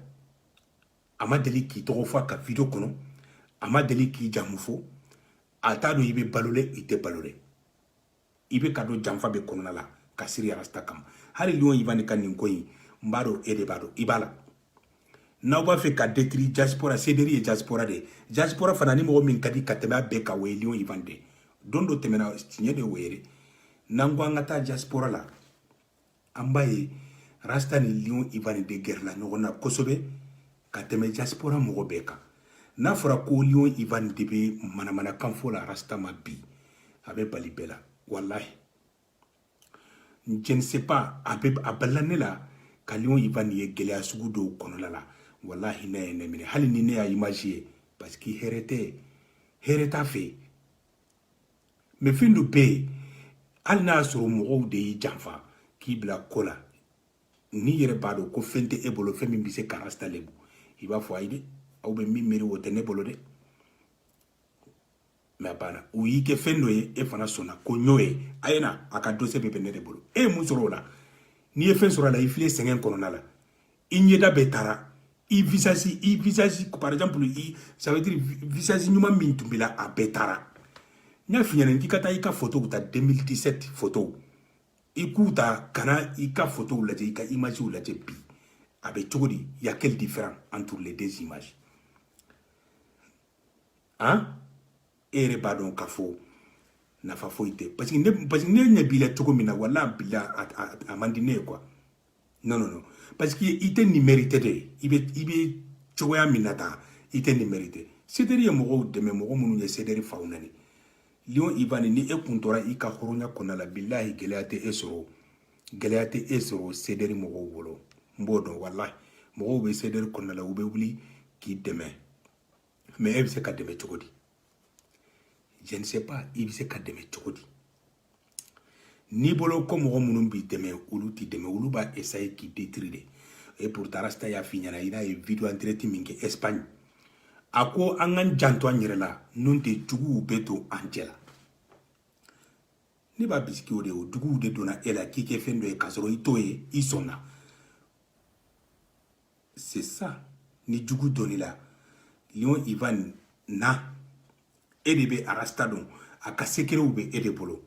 a ma deli k'i tɔgɔ fɔ a ka video kɔnɔ a ma deli k'i jamu fɔ a t'a dɔn i bɛ balo dɛ i tɛ balo dɛ i bɛ ka don janfa bɛɛ kɔnɔna la ka siri rasta kama hali lion ivan ka nin ko in n b'a dɔn e de b'a dɔn i b'a la n'aw b'a fɛ ka détruire diaspora CDR ye diaspora de ye diaspora fana ni mɔgɔ min ka di ka tɛmɛ a bɛɛ kan o ye lion ivan de don dɔ tɛmɛna tiɲɛ de o ye n'an ko an ka taa diaspora la an b'a ye rasta ni lion ivan de gɛrɛla ɲɔgɔn na kosɛbɛ ka tɛmɛ diaspora mɔgɔ bɛɛ kan n'a fɔra ko lion ivan de bɛ manamanakan fɔ la rasta ma bi a bɛ bali bɛɛ la walahi je ne sais pas a bɛ a balila ne la ka lion ivan ye gɛlɛya sugu dɔw kɔnɔla la walahi hinɛ ye ne minɛ hali ni ne y'a image ye parce que hɛrɛ tɛ hɛrɛ t'a fɛ mais fɛn dɔ bɛ yen hali n'a y'a sɔrɔ mɔgɔw de y'i janfa k'i bila ko la n'i yɛrɛ b'a dɔn ko fɛn tɛ e bolo fɛn min bɛ se ka rasta lebu i b'a fɔ ayi dɛ aw bɛ min miiri o tɛ ne bolo dɛ mais a banna u y'i kɛ fɛn dɔ ye e fana sɔnna ko ɲɔ ye a ye na a ka dossier bɛɛ bɛ ne de bolo e ye mun sɔrɔ o la n'i ye fɛn sɔrɔ a la i filɛ sɛgɛn kɔnɔna la i ɲɛda bɛɛ taara i visage i visage par exemple i ça veut dire visage ɲuman min tun b'i la a bɛɛ taara n y'a f'i ɲɛna k'i ka taa i ka photow ta 2017 photow i k'u ta ka na i ka photow lajɛ i ka imagew lajɛ bi a bɛ cogo di y a quelle différence entre les deux images han e yɛrɛ b'a dɔn k'a fɔ nafa foyi tɛ parce que ne parce que ne ɲɛ b'i la cogo min na wala bila a man di ne ye quoi non non non parce que i tɛ nin mérité de i bɛ i bɛ cogoya min na tan i tɛ nin mérité sederi ye mɔgɔw dɛmɛ mɔgɔ minnu ye sederi faw nani lion ivan ni e kun tora i ka hɔrɔnya kɔnɔna la bilahi gɛlɛya tɛ e sɔrɔ gɛlɛya tɛ e sɔrɔ sederi mɔgɔw bolo n b'o dɔn walahi mɔgɔw bɛ sederi kɔnɔna la u bɛ wuli k'i dɛmɛ mais e bɛ se ka dɛmɛ cogo di je ne sais pas i bɛ se ka dɛmɛ cogo di n'i bolo ko mɔgɔ minnu b'i dɛmɛ olu t'i dɛmɛ olu b'a essayer k'i détruire de et pourtant rasta y'a f'i ɲɛna i n'a ye video en direct min kɛ Espagne a ko an k'an janto an yɛrɛ la n'o tɛ juguw bɛ don an cɛ la ne b'a bisiki o de o juguw de donna e la k'i kɛ fɛn dɔ ye k'a sɔrɔ i t'o ye i sɔnna c'est ça ni jugu donn'i la lion ivan na e de bɛ rasta dɔn a ka sekerew bɛ e de bolo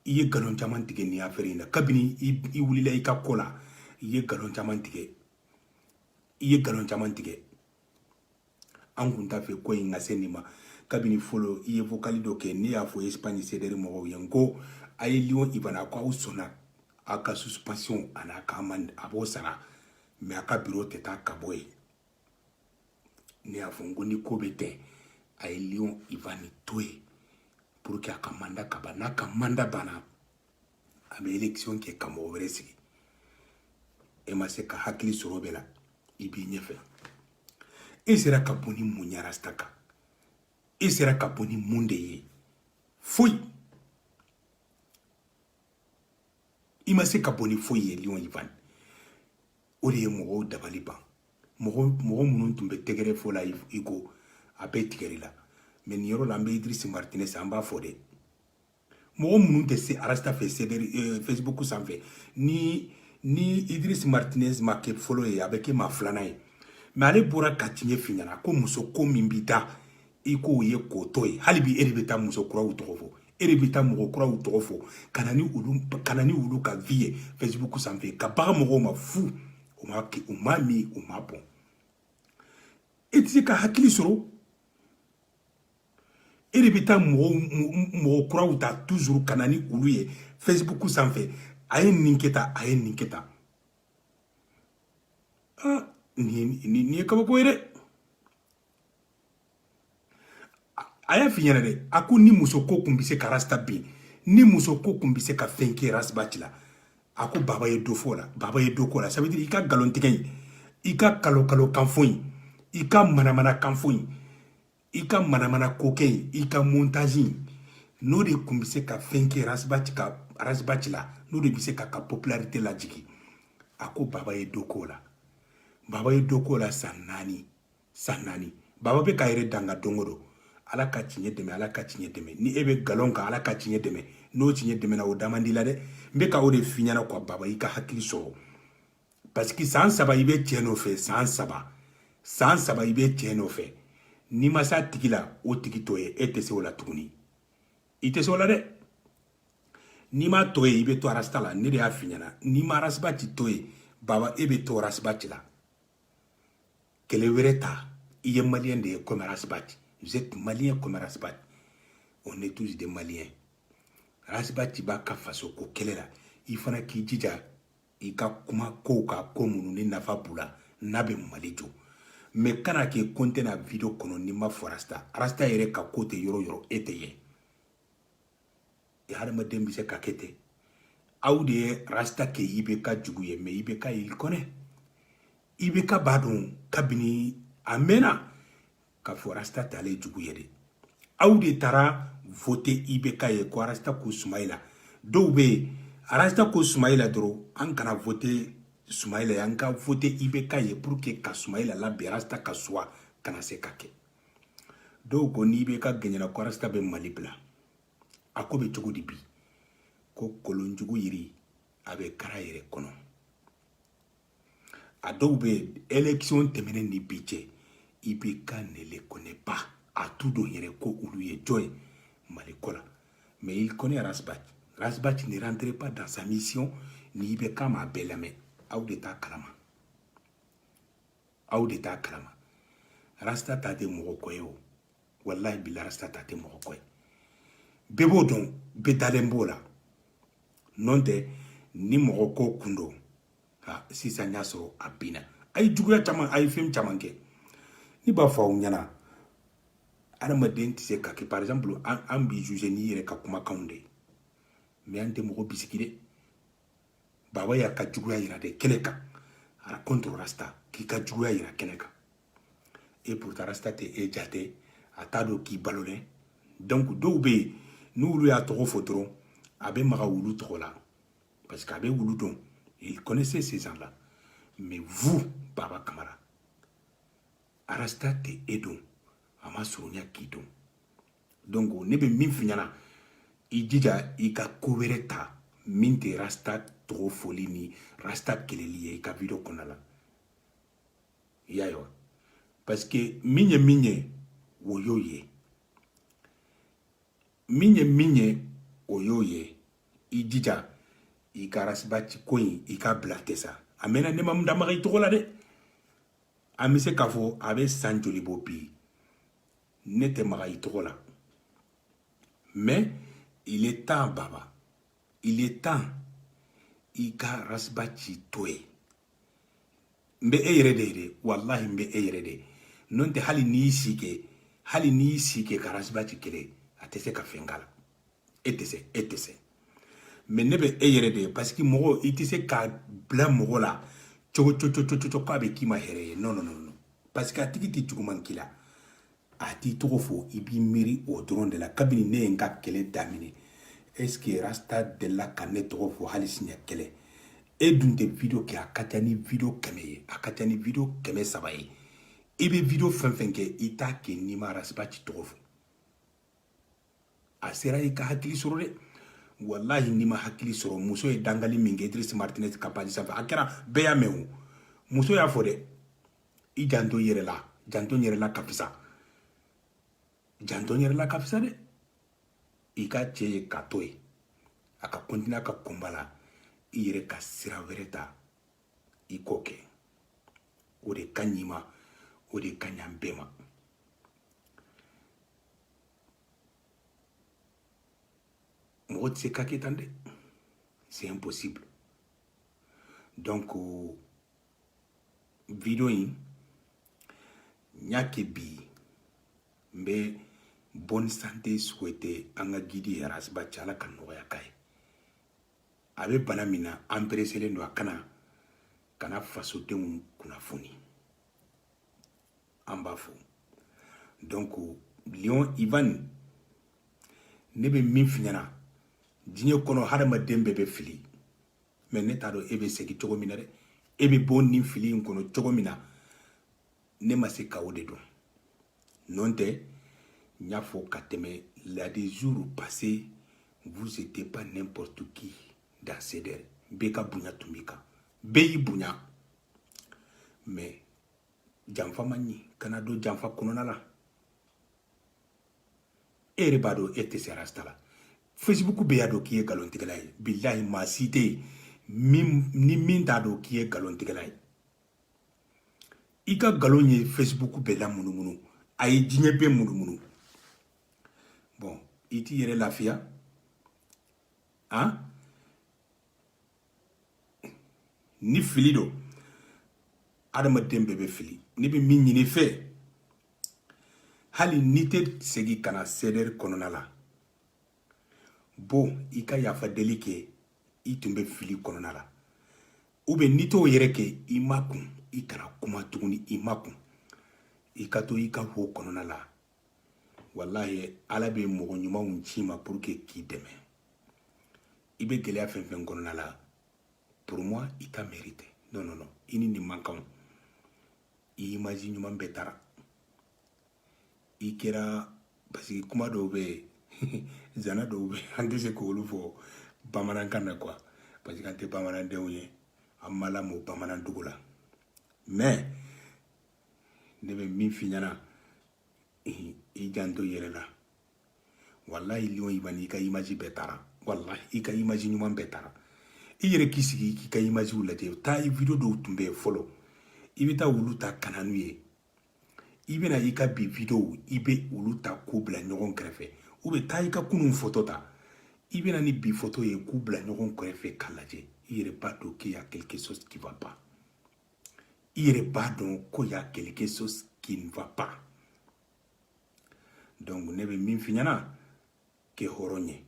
i ye nkalon caman tigɛ nin affaire in na kabini i wulila i ka ko la i ye nkalon caman tigɛ i ye nkalon caman tigɛ an kun t'a fɛ ko in ka se nin ma kabini fɔlɔ i ye vocal dɔ kɛ ne y'a fɔ espagne sederi mɔgɔw ye n ko a ye lion ivan a ko aw sɔnna a ka suspension an'a ka amende a b'o sara mais a ka biro tɛ taa ka bɔ yen ne y'a fɔ n ko ni ko bɛ ten a ye lion ivan to yen pour que a ka mandat ka ban n'a ka mandat banna a bɛ élection kɛ ka mɔgɔ wɛrɛ sigi e ma se ka hakili sɔrɔ bɛɛ la i b'i ɲɛfɛ e sera ka bɔ ni mun ye rasta kan e sera ka bɔ ni mun de ye foyi i ma se ka bɔ ni foyi ye lion ivan o de ye mɔgɔw dabali ban mɔgɔ mɔgɔ minnu tun bɛ tɛgɛrɛ fɔ la i kɔ a bɛɛ tigɛr'i la mais nin yɔrɔ la an bɛ idriss martinez an b'a fo dɛ mɔgɔ minnu tɛ se rasta fɛ sederi euh, facebook sanfɛ ni ni idriss martinez ma kɛ fɔlɔ ye a bɛ kɛ maa filanan ye mais ale bɔra ka tiɲɛ f'i ɲɛna ko muso ko min b'i da i k'o ye k'o to yen hali bi e de bɛ taa muso kuraw tɔgɔ fɔ e de bɛ taa mɔgɔ kuraw tɔgɔ fɔ ka na ni olu ka na ni olu ka vie ye facebook sanfɛ ka bagan mɔgɔw ma fu u ma u m'a min u m'a bɔn e tɛ se ka hakili sɔrɔ e de bɛ taa mɔgɔw mɔgɔ kuraw ta toujours ka na ni olu ye facebook sanfɛ a ye nin kɛ tan a ye nin kɛ tan ah nin nin ye kabako ye dɛ a y'a f'i ɲɛna dɛ a ko ni muso ko kun bɛ se ka rasta bin ni muso ko kun bɛ se ka fɛn kɛ ras bath la a ko baba ye dɔ fɔ o la baba ye dɔ k'o la ça veut dire i ka nkalontigɛ in i ka kalo kalo kanfɔ in i ka manamana kanfɔ in i ka manamana kokɛ in i ka montage in n'o de tun bɛ se ka fɛn kɛ ras bath ka ras bath la n'o de bɛ se k'a ka popularité lajigin a ko baba ye dɔ k'o la baba ye dɔ k'o la san naani san naani baba bɛ k'a yɛrɛ danga don o don ala ka tiɲɛ dɛmɛ ala ka tiɲɛ dɛmɛ ni e bɛ nkalon kan ala ka tiɲɛ dɛmɛ n'o tiɲɛ dɛmɛna o da man d'i la dɛ n bɛ ka o de f'i ɲɛna quoi baba i ka hakili sɔrɔ parce que san saba i bɛ cɛ nɔfɛ san saba san saba i bɛ cɛ nɔfɛ n'i ma s'a tigi la o tigi to yen e tɛ se o la tuguni i tɛ se o la dɛ n'i m'a to yen i bɛ to rasta la ne de y'a f'i ɲɛna n'i ma ras bath to yen baba e bɛ to ras bath la kɛlɛ wɛrɛ ta i ye malien de ye comme ras bath vous êtes malien comme ras bath on est tous des maliens ras bath b'a ka faso ko kɛlɛ la i fana k'i jija i ka kuma kow kan ko minnu ni nafa b'u la n'a bɛ mali jɔ mais kana kɛ ko n tɛ na video kɔnɔ n'i ma fɔ rasta rasta yɛrɛ ka ko tɛ yɔrɔ yɔrɔ e tɛ ye e hadamaden bɛ se ka kɛ ten aw de ye rasta kɛ ibk jugu ye mais ibk il connaît ibk b'a dɔn kabini a mɛnna k'a fɔ rasta t'ale jugu ye dɛ aw de taara vote ibk ye ko rasta ko sumayila dɔw bɛ yen rasta ko sumayila dɔrɔn an kana vote sumayila ye an ka vote ibk ye pour que ka sumayila labin rasta ka choix kana se ka kɛ dɔw ko ni ibk gaɲɛna ko rasta bɛ mali bila a ko bɛ cogo di bi ko kɔlɔnjugu yiri a bɛ kar'a yɛrɛ kɔnɔ a dɔw bɛ élection tɛmɛnen ni bi cɛ ibk ne les connaît pas a t'u dɔn yɛrɛ ko olu ye jɔn ye mali ko la mais il connaît ras bath ras bath ne rentre pas dans sa mission ni ibk m'a bɛɛ lamɛn aw de t'a kalama aw de t'a kalama rasta ta tɛ mɔgɔ ko ye o walahi bila rasta ta tɛ mɔgɔ ko ye bɛɛ b'o dɔn bɛɛ dalen b'o la nɔntɛ ni mɔgɔ ko kun don ha sisan y'a sɔrɔ a binna a ye juguya caman a ye fɛn caman kɛ ne b'a fɔ aw ɲɛna adamaden tɛ se ka kɛ par exemple an b'i juger n'i yɛrɛ ka kumakanw de ye mais an tɛ mɔgɔ bisigi dɛ baba y'a ka juguya yira de kɛnɛ kan a contre rasta k'i ka juguya yira kɛnɛ kan et pourtant rasta tɛ e jate a t'a dɔn k'i balolen donc dɔw bɛ yen n'olu y'a tɔgɔ fɔ dɔrɔn a bɛ maga olu tɔgɔ la Parce qu'a bɛ olu dɔn, il connaissait ces gens-là. Mais vous, Baba Kamara, Rasta tɛ e dɔn, a ma surunya k'i dɔn. Donc, ne bɛ min f'i ɲɛna, i jija i ka ko wɛrɛ ta min tɛ rasta tɔgɔ fɔli ni rasta kɛlɛli ye i ka video kɔnɔna la. I y'a ye wa? Parce que min ye min ye, o y'o ye. min ye min ye o y'o ye i jija i ka ras bath ko in i k'a bila ten sa a mɛnna ne ma n da maga i tɔgɔ la dɛ an bɛ se k'a fɔ a bɛ san joli bɔ bi ne tɛ maga i tɔgɔ la mais il est temps baba il est temps i ka ras bath to yen n bɛ e yɛrɛ de ye dɛ walahi n bɛ e yɛrɛ de n'o tɛ hali n'i y'i si kɛ hali n'i y'i si kɛ ka ras bath kɛlɛ a tɛ se ka fɛn k'a la e tɛ se e tɛ se mais ne bɛ e yɛrɛ de ye parce que mɔgɔ i tɛ se ka bila mɔgɔ la cogo cogo cogo cogo k'a bɛ k'i ma hɛrɛ ye non non non parce que a tigi tɛ juguman k'i la a t'i tɔgɔ fɔ i b'i miiri o dɔrɔn de la kabini ne ye n ka kɛlɛ daminɛ est ce que rasta delila ka ne tɔgɔ fɔ hali siɲɛ kelen e dun tɛ video kɛ a ka ca ni video kɛmɛ ye a ka ca ni video kɛmɛ saba ye i bɛ video fɛn fɛn kɛ i t'a kɛ n'i ma ras bath tɔgɔ fɔ a sera i ka hakili sɔrɔ dɛ walahi n'i ma hakili sɔrɔ muso ye dangali min kɛ idris martinez ka page sanfɛ a kɛra bɛɛ y'a mɛn o muso y'a fɔ dɛ i janto yɛrɛ la janto yɛrɛ la ka fisa janto yɛrɛ la ka fisa dɛ i ka cɛ ye k'a to yen a ka continuer a ka combat la i yɛrɛ ka sira wɛrɛ ta i k'o kɛ o de ka ɲi i ma o de ka ɲi an bɛɛ ma mɔgɔ tɛ se ka kɛ tan dɛ c'est impossible donc video in n y'a kɛ bi n bɛ bonne santé souhaiter an ka guide ye ras bath ala ka nɔgɔya k'a ye a bɛ bana min na an pereselen don a ka na ka na fasodenw kunnafoni an b'a fo donc lion ivan ne bɛ min f'i ɲɛna diɲɛ kɔnɔ hadamaden bɛɛ bɛ fili mais ne t'a dɔn e bɛ segin cogo min na dɛ e bɛ bɔ nin fili in kɔnɔ cogo min na ne ma se ka o de dɔn n'o tɛ n y'a fɔ ka tɛmɛ la des jours passés vous étiez pas n'importe qui dans CDR bɛɛ ka bonya tun b'i kan bɛɛ y'i bonya mais janfa man ɲi kana don janfa kɔnɔna la e yɛrɛ b'a dɔn e tɛ se rasta la facebook bɛɛ y'a dɔn k'i ye nkalontigɛla ye bilahi maa si tɛ yen ni min t'a dɔn k'i ye nkalontigɛla ye i ka nkalon ye facebook bɛɛ lamunumunu a ye diɲɛ bɛɛ munumunu bon i t'i yɛrɛ lafiya han ni fili don adamaden bɛɛ bɛ fili ne bɛ min ɲini i fɛ hali n'i tɛ segin ka na cdr kɔnɔna la bon i ka yafa deli kɛ i tun bɛ fili kɔnɔna la ou bien n'i t'o yɛrɛ kɛ i makun i kana kuma tuguni i makun i ka to i ka ho kɔnɔna la walahi ala bɛ mɔgɔ ɲumanw ci i ma pour que k'i dɛmɛ i bɛ gɛlɛya fɛn fɛn kɔnɔna la pour moi i t'a mérite non non non i ni nin man kan i image ɲuman bɛɛ taara i kɛra parce que kuma dɔw bɛ yen zana dɔw bɛ yen an tɛ se k'olu fɔ bamanankan na quoi parce que an tɛ bamanandenw ye an ma lamɔ bamanandugu la mais ne bɛ min f'i ɲɛna i janto i yɛrɛ la walayi lion ivan i ka image bɛɛ taara walayi i ka image ɲuman bɛɛ taara i yɛrɛ k'i sigi k'i ka imagew lajɛ taa i video dɔw tun bɛ yen fɔlɔ i bɛ taa olu ta ka na n'u ye i bɛ na i ka bi videow i bɛ olu ta k'u bila ɲɔgɔn kɛrɛfɛ ou bien taa i ka kunun foto ta i bɛ na ni bi foto ye k'u bila ɲɔgɔn kɛrɛfɛ k'a lajɛ i yɛrɛ b'a dɔn qu'il y a quelque chose qui va pas i yɛrɛ b'a dɔn ko y a quelque chose qui ne va pas donc ne bɛ min f'i ɲɛna kɛ hɔrɔn ye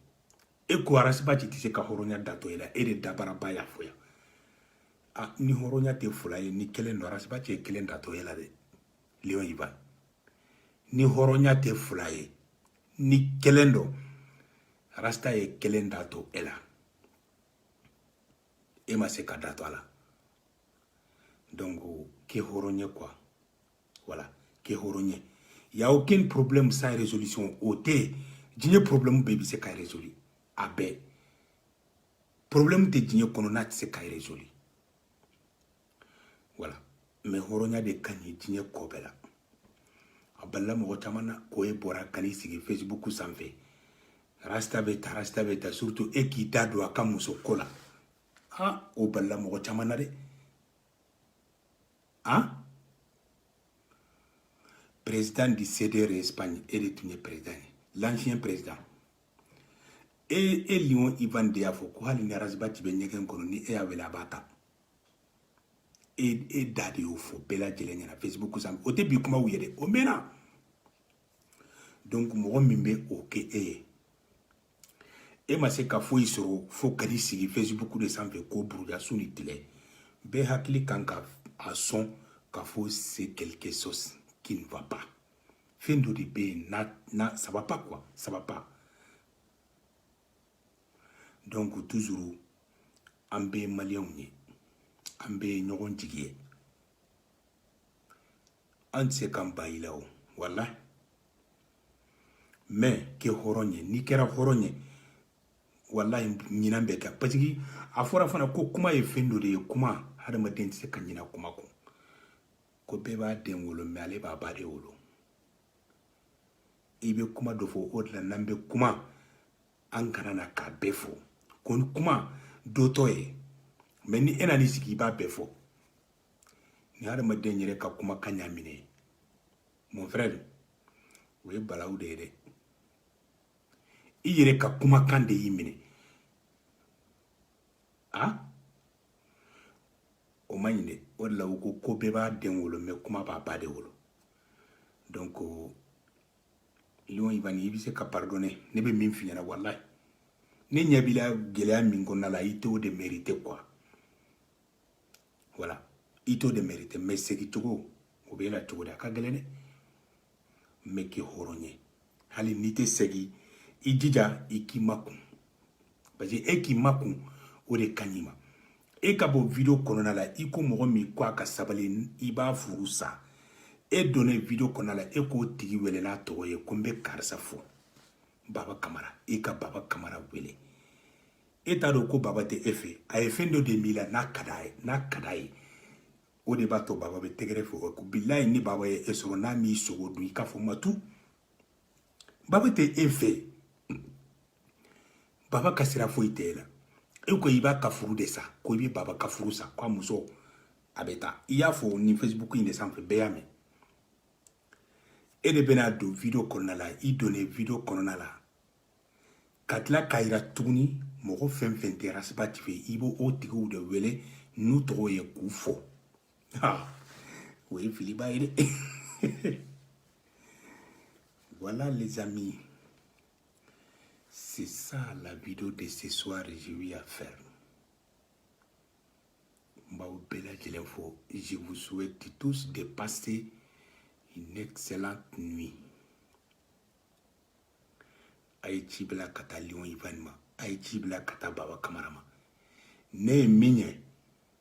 e ko ras bath tɛ se ka hɔrɔnya datɔ e la e de dabaraba y'a fɔ yan ni hɔrɔnya tɛ fila ye ni kelen don ras bath ye kelen datɔ e la dɛ lion ivan ni hɔrɔnya tɛ fila ye ni kelen don rasta ye kelen datɔ e la e ma se ka da to a la donc kɛ hɔrɔn ye quoi voilà kɛ hɔrɔn ye y a aucun problème sans résolution o tɛ diɲɛ problème bɛɛ bɛ se ka résoudre a bɛɛ problème tɛ diɲɛ kɔnɔ n'a tɛ se ka résoudre voilà mais hɔrɔnya de ka ɲi diɲɛ ko bɛɛ la a balila mɔgɔ caman na ko e bɔra ka n'i sigi facebook sanfɛ rasta bɛ ta rasta bɛ ta surtout e k'i da don a ka muso ko la ha o balila mɔgɔ caman na dɛ han président du cdr espagne e de tun ye président ye l'ancien président e e lion ivan de y'a fɔ ko hali ni ras bath bɛ ɲɛgɛn kɔnɔ ni e y'a wele a b'a ta e e da de y'o fɔ bɛɛ lajɛlen ɲɛna facebook sanfɛ o tɛ bi kumaw ye dɛ o mɛnna donc mɔgɔ min bɛ o kɛ e ye e ma se ka foyi sɔrɔ fo ka n'i sigi facebook de sanfɛ ko buruja su ni tile bɛɛ hakili kan ka a sɔn ka fɔ c'est quelque chose qui ne va pas fɛn dɔ de bɛ yen n'a n'a ça va pas quoi ça va pas donc toujours an bɛɛ ye maliyɛnw ye an bɛɛ ye ɲɔgɔn jigi ye an tɛ se k'an ban i la o walayi mais kɛ hɔrɔn ye n'i kɛra hɔrɔn ye walayi ɲinan bɛ kɛ parce que a fɔra fana ko kuma ye fɛn dɔ de ye kuma hadamaden tɛ se ka ɲina kuma kɔ ko bɛɛ b'a den wolo mais ale b'a ba de wolo i bɛ kuma dɔ fɔ o de la n'an bɛ kuma an kana na k'a bɛɛ fɔ ko ni kuma dɔ to yen mais ni e nan'i sigi i b'a bɛɛ fɔ ni hadamaden yɛrɛ ka kumakan y'a minɛ mon frère o ye balawu de ye dɛ i yɛrɛ ka kumakan de y'i minɛ a o man ɲi dɛ o de la u ko ko bɛɛ b'a den wolo mais kuma b'a ba de wolo donc euh, lion ivan i bɛ se ka pardonner ne bɛ min f'i ɲɛna walayi ne ɲɛ b'i la gɛlɛya min kɔnɔna la i t'o de mériter quoi voilà i t'o de mériter mais segin cogo o b'e la cogo di a ka gɛlɛn dɛ mais kɛ hɔrɔn ye hali n'i tɛ segin i jija i k'i makun parce que e k'i makun o de ka ɲi ma e ka bɔ video kɔnɔna la i ko mɔgɔ min ko a ka sabali i b'a furu sa e donnen video kɔnɔna la e k'o tigi wele n'a tɔgɔ ye ko n bɛ karisa fɔ baba kamara i ka baba kamara wele e t'a dɔn ko baba tɛ e fɛ a ye fɛn dɔ de m'i la n'a ka d'a ye o de b'a to baba bɛ tɛgɛrɛ fɔ e kɔ bilayi ni baba ye e sɔrɔ n'a m'i sogo dun i k'a fɔ matu baba tɛ e fɛ baba ka sira foyi tɛ e la e ko i b'a ka furu de sa ko i bɛ baba ka furu sa ko a muso a bɛ taa i y'a fɔ nin facebook in de sanfɛ bɛɛ y'a mɛn e de bɛna don video kɔnɔna la i donnen video kɔnɔna la ka tila k'a yira tuguni mɔgɔ fɛn fɛn tɛ rasibati fɛ i bɛ o tigiw de wele n'u tɔgɔ ye k'u fɔ o ye filiba ye dɛ voilà les amis c'est ça la vidéo de ce soir j'ai eu à faire n b'aw bɛɛ lajɛlen fo je vous souhaite tous de passer une excellente nuit a ye ci bila ka taa lion ivan ma a ye ci bila ka taa baba kamara ma ne ye min ye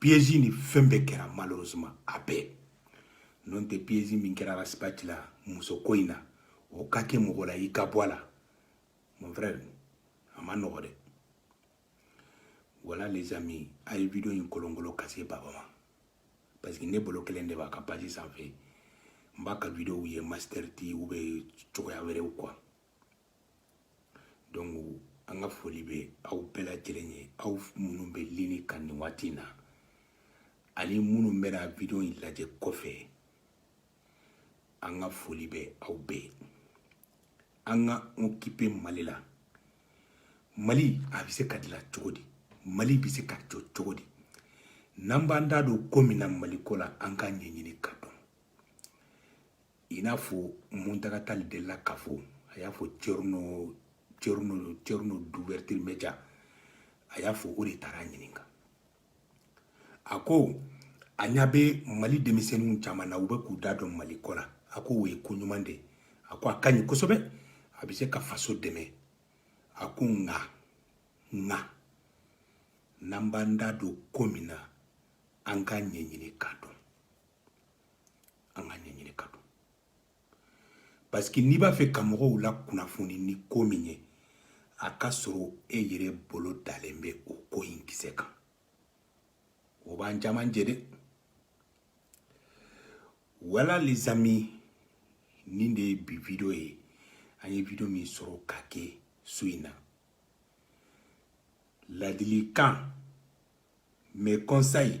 piège ni fɛn bɛɛ kɛra malheureusement a bɛɛ n'o tɛ piège min kɛra ras bath la muso ko in na o ka kɛ mɔgɔ la i ka bɔ a la mon frère a man nɔgɔ dɛ voilà les amis a ye video in kolonkolo ka se baba ma parce que ne bloquélen de b'a ka page sanfɛ n b'a ka videow ye master t u bɛ cogoya wɛrɛw quoi donc an ka foli bɛ aw bɛɛ lajɛlen ye aw minnu bɛ ligne kan nin waati in na ani minnu bɛna video in lajɛ kɔfɛ an ka foli bɛ aw bɛɛ ye an ka occuper mali la mali a bɛ se ka dilan cogo di mali bɛ se ka jɔ cogo di n'an b'an da don ko min na mali ko la an k'a ɲɛɲini k'a dɔn i n'a fɔ mountaga tall delila k'a fɔ a y'a fɔ thierno thierno d'ouverture média a y'a fɔ o de taara a ɲininka a ko a ɲa bɛ mali denmisɛnninw caman na u bɛ k'u da don mali ko la a ko o ye ko ɲuman de a ko a ka ɲi kosɛbɛ a bɛ se ka faso dɛmɛ a ko nka nka n'an b'an da don ko min na an k'a ɲɛɲini k'a dɔn an k'a ɲɛɲini k'a dɔn parce que n'i b'a fɛ ka mɔgɔw lakunnafoni ni ko min ye a ka sɔrɔ e yɛrɛ bolo dalen bɛ o ko in kisɛ kan o b'an caman jɛ dɛ voilà les amis nin de ye bi video ye an ye video min sɔrɔ ka kɛ su in na ladilikan mes conseils